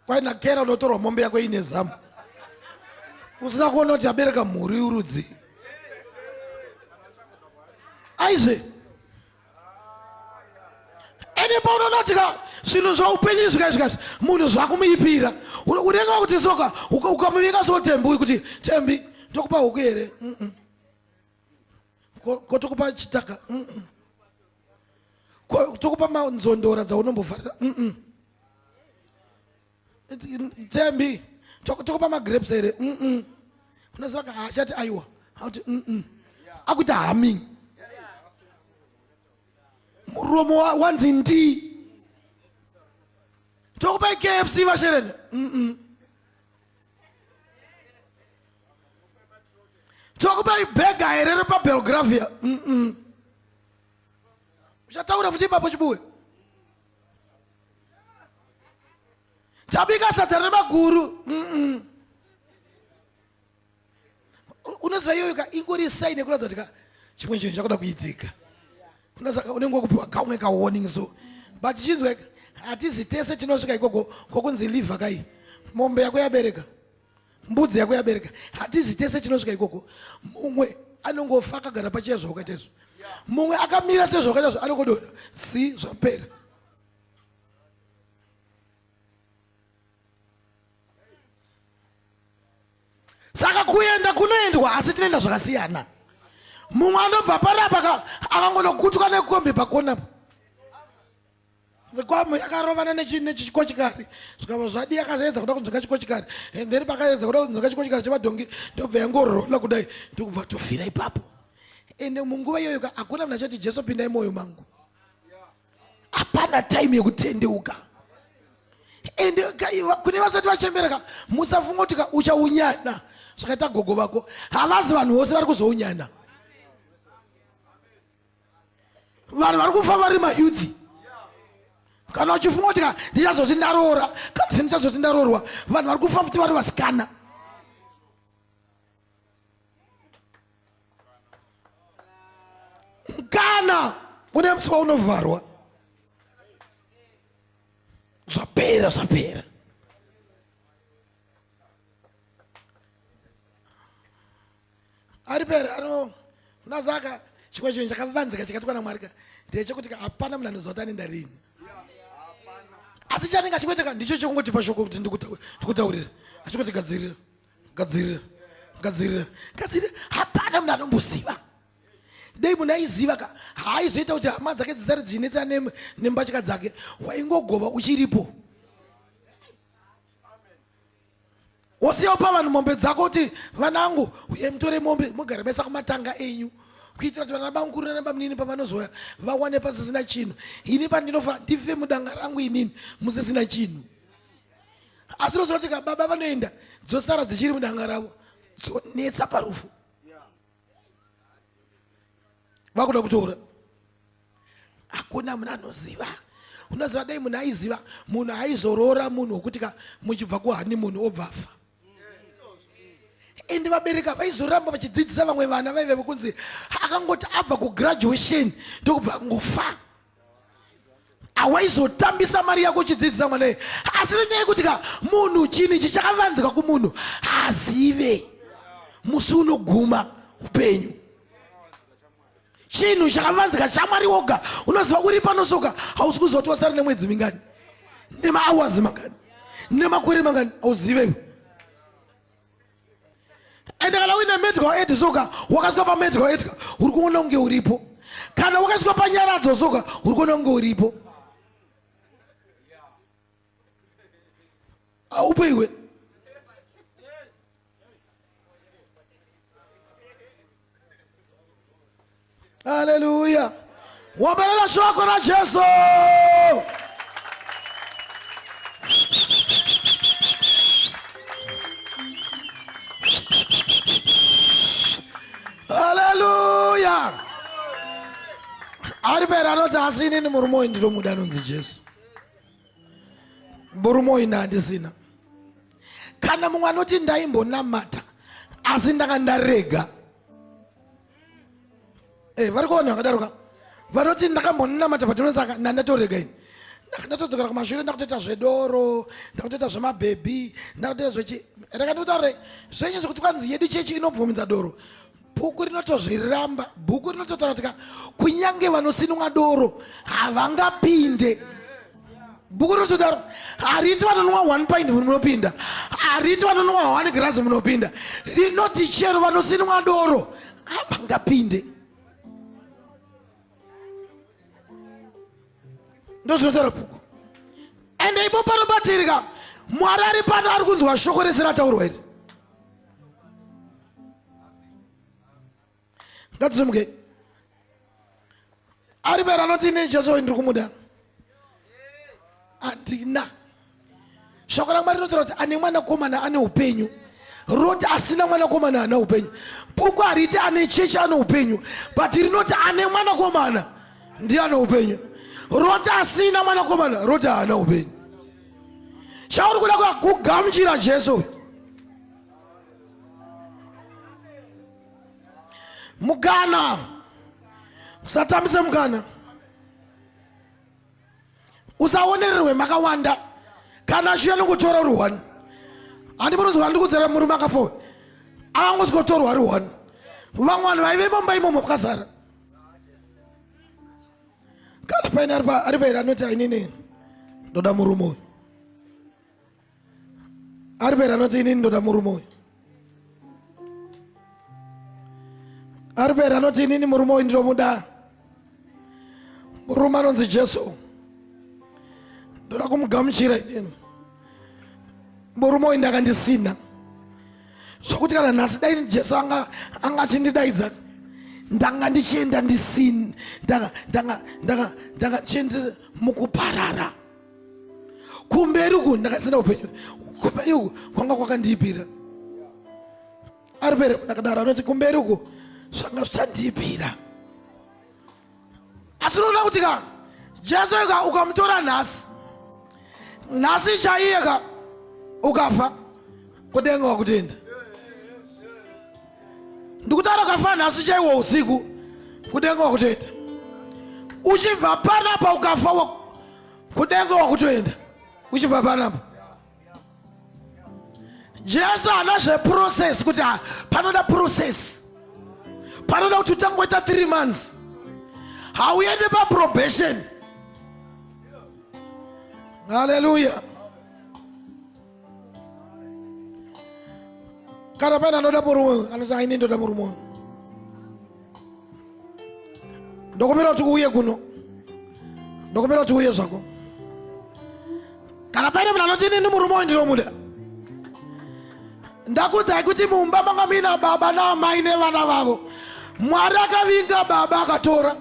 kwaina kera unotorwa mombe yako ine zamu usina kuona kuti abereka mhuri urudzii aizve ende paunonotika zvinhu zvaupenyu zvikai zvikati munhu zvakumuipira unenge vakuti soka ukamuvika so tembi uyu kuti tembi ndokupa huku here ko tokupa chitaka tokupa manzondora dzaunombofarira Thembi, tokupa magrapes here? Mm -mm. Unoziva ka hachati aiwa. Hauti mm -mm. Akuita humming. Muromo wanzi ndi. Tokupa KFC vashereni. Mm -mm. Tokupa bega here repa Belgravia. Mm -mm. Uchataura futi ipapo chibuwe. tabika sadza remaguru unoziva iyoyo ka ingori saini yekuratidza kuti ka chimwe chinhu chakuda kuidzika unenge wakupiwa kamwe kawarning so but chinzwe hatizi tese tinosvika ikoko kokunzi liver kai mombe yako yabereka mbudzi yako yabereka hatizi tese tinosvika ikoko mumwe anongofa akagara pachiya zvawakaita izvo mumwe akamira sezvawakaita zvo anongodona si zvapera saka kuenda kunoendwa asi tinoenda zvakasiyana mumwe anobva panapa akangonokutwa nekombi pakonapo Nzikwambo yakarovana nechikochikari zvikava zvadi yakaedza kuda kunzwika chikochikari and then pakaedza kuda kunzwika chikochikari chemadhongi ndobva yangorola kudai ndokubva tofira ipapo ende munguva iyoyo ka hakuna munhu achati jesu pindai mwoyo mangu hapana time yekutendeuka ende kune vasati vachembereka musafunga kuti ka uchaunyana zvakaita gogo vako havazi vanhu vose vari kuzounyana vanhu vari kufa vari mayuthi kana wachifunga kuti ka ndichazoti ndaroora kana kuti ndichazoti ndaroorwa vanhu vari kufa futi vari vasikana kana une musi waunovharwa zvapera zvapera ari pere ano unazaka chimwe chinhu chakavanzika chikatwa namwari ka ndechekuti ka hapana munhu anoziva kuti anenda rini asi chanenge achikuiteka ndicho chekungotipa shoko kuti ndikutaurira achikuti gadzirira gadzirira gadzirira gadzirira hapana munhu anomboziva dei munhu aiziva ka haaizoita kuti hama dzake dzisare dzichinetsa nembatya dzake waingogova uchiripo wosiyawo pavanhu mombe dzako kuti vanangu uye mutore mombe mugare mesa kumatanga enyu kuitira kuti vana bamukuru nana bamunini pavanozoya vawane pasisina chinhu ini pandinofa ndife mudanga rangu inini musisina chinhu asi unozoona kuti kababa vanoenda dzosara dzichiri mudanga ravo dzonetsa parufu vakuda kutora hakuna munhu anoziva unoziva dai munhu aiziva munhu aizoroora munhu wokuti ka muchibva kuhani munhu obvafa ende vabereki avaizoramba vachidzidzisa vamwe vana vaive vokunzi akangoti abva kugraduation ndokubva angofa awaizotambisa mari yako uchidzidzisa mwana ye asi nenyaya yekuti ka munhu chini ichi chakavanzika kumunhu haazive musi unoguma upenyu chinhu chakavanzika chamwari woga unoziva uri panosoka hausi kuziva kuti wasara nemwedzi mingani nemaawazi mangani nemakore mangani hauziveyo and kana uine medical aid soka wakasvika pamedical aid ka uri kuona kunge uripo kana wakasvika panyaradzo soka uri kuona kunge uripo aupo iwe Haleluya. Wambalela shoko la Jesu. Haleluya. Ari pera anoti asi inini murume uyu ndinomuda anonzi Jesu. Murume uyu ndandisina. kana mumwe anoti ndaimbonamata asi ndanga ndarega hey, eh, vari kuvanhu vakadaro ka vanoti ndakambonamata patinoi saka ndandatorega ini ndakatodzokera kumashure ndakutoita zvedoro ndakutoita zvemabhebhi ndakutoita zvechi reka ndikutaure zvenyu zvekuti kwanzi yedu chechi inobvumidza doro bhuku rinotozviramba bhuku rinototaura tika kunyange vanosinwa doro havangapinde bhuku rinotodaro hariti vanonwa one pint munopinda hariti vanonwa one grass munopinda rinoti chero vanosinwa doro havangapinde ndozvinotaura bhuku and ipo pano patirika mwari ari pano ari kunzwa shoko rese rataurwa iri ngatizimuke ari pera anoti ine jesu ndiri kumuda handina shoko ramwari rinotaura kuti ane mwanakomana ane upenyu rinoti asina mwanakomana ana upenyu bhuku hariti ane chechi ane upenyu but rinoti ane mwanakomana ndiye ane upenyu roti asina mwanakomana roti haana upenyu chauri kuda kugamuchira jesu mukana musatambise mukana usaonererwe makawanda kana achiuya nongotora uri one handi munonzwa ndikudzera murume akafowe akangosikotorwa ari one vamwe vanhu vaive momba imomo kwakazara kana paine ari pairi anoti ainini ndoda murume uyu ari pera anoti inini ndoda murume uyu ari pera anoti inini murume uyu ndinomuda murume anonzi jesu ndoda kumugamuchira inini murume uyu ndakandisina zvokuti kana nhasi dai jesu anga anga achindidaidza ndanga ndichienda ndisini ndanga ndanga ndanga ndanga ndichienda mukuparara kumberi uku ndakasina upenyu kumberi uku kwanga kwakandiipira ari pere ndakadaro anoti kumberi uku zvanga zvichandiipira asi unoona kuti ka jesu ka ukamutora nhasi nhasi chaiye ka ukafa kudenga wakutenda ndikutaura kafa nhasi chaiwo usiku kudenga wakutoenda uchibva panapa ukafa kudenga wakutoenda uchibva panapa jesu ana zveprocess kuti ah, panoda process panoda kuti utangoita three months hauende paprobation haleluya kana pane anoda murume uyu anoti aine ndoda murume uyu ndokumbira kuti uye kuno ndokumbira kuti uye zvako kana paine munhu anoti inini murume uyu ndinomuda ndakudzai kuti mumba manga muina baba naamai nevana vavo mwari akavinga baba akatora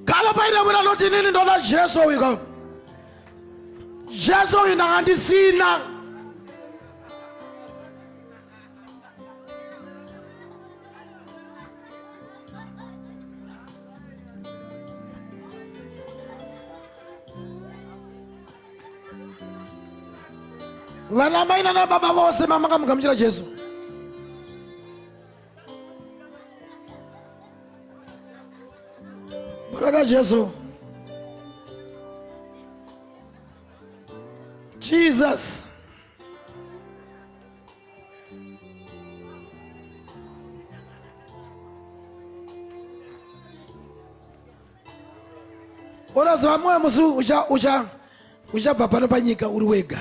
kana paine munhu anoti inini ndoda jesu uyu ka jesu uyu ndanga ndisina vanamai nanababa vose mamakamugamuchira jesu Murada Jesu. Jesus. unoziva mwoyo musi uchabva pano panyika uri wega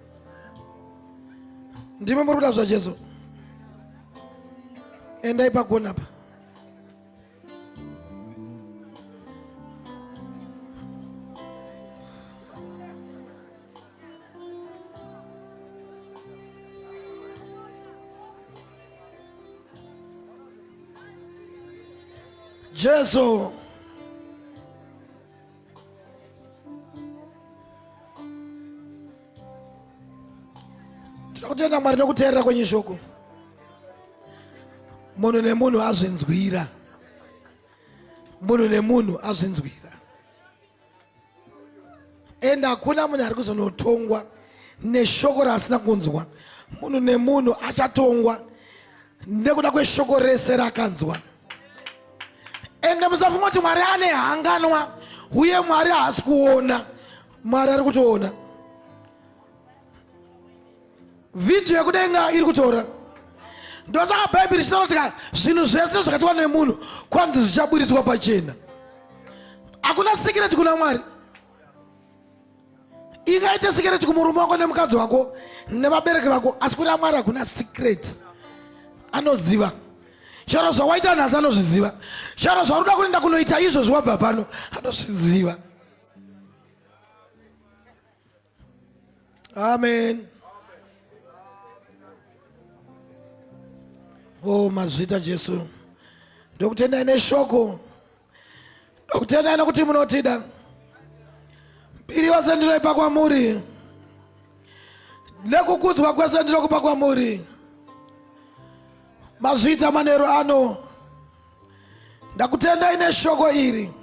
ndimi muri kuda zvajesu endai pagona pa jesu tinakutenda mwari nekuteerera kwenyu shoko munhu nemunhu azvinzwira munhu nemunhu azvinzwira ende hakuna munhu ari kuzonotongwa neshoko raasina kunzwa munhu nemunhu achatongwa nekuda kweshoko rese raakanzwa ende musafunga kuti mwari ane hanganwa uye mwari haasi kuona mwari ari kutoona vhidhiyo yekudenga iri kutora ndosaka bhaibheri chitaura tika zvinhu zvese zvakatiwa nemunhu kwanzi zvichaburitswa pachena hakuna sikireti kuna mwari ingaite sikireti kumurume wako nemukadzi wako nevabereki vako asi kuna mwari hakuna sikireti anoziva chero zvawaita nhasi anozviziva chero zvaruda kunoenda kunoita izvozvi wabva pano anozviziva amen o oh, mazvita jesu ndokutendai neshoko Ndokutendai nokuti munotida. Mbiri yose ndinoipa kwamuri, nekukudzwa kwese ndinokupa kwamuri. Mazviita manheru ano, ndakutendai neshoko iri.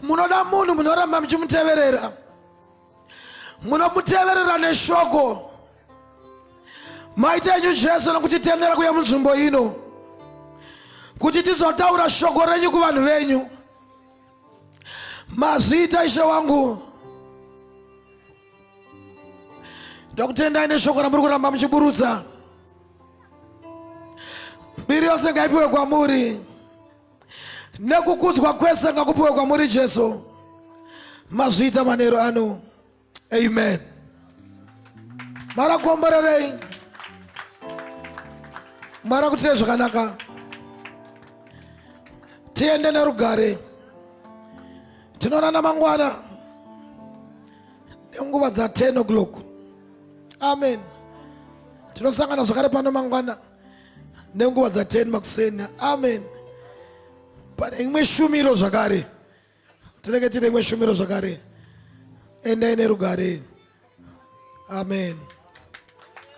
Munoda munhu munoramba muchimuteverera. munomuteverera neshoko maita enyu jesu nokutitendera kuya munzvimbo ino kuti tizotaura shoko renyu kuvanhu venyu mazviita ishe wangu ndakutendai neshoko ramuri kuramba muchiburutsa mbiri yose ngaipiwe kwamuri nekukudzwa kwese ngakupiwe kwamuri jesu mazviita manero ano amen marakuomborerei marakutire zvakanaka tiende nerugare tinoonana mangwana nenguva dza 10 o'clock amen tinosangana zvakare pano mangwana nenguva dza 10 makuseni amen pane imwe shumiro zvakare tinenge tine imwe shumiro zvakare endai nerugare amen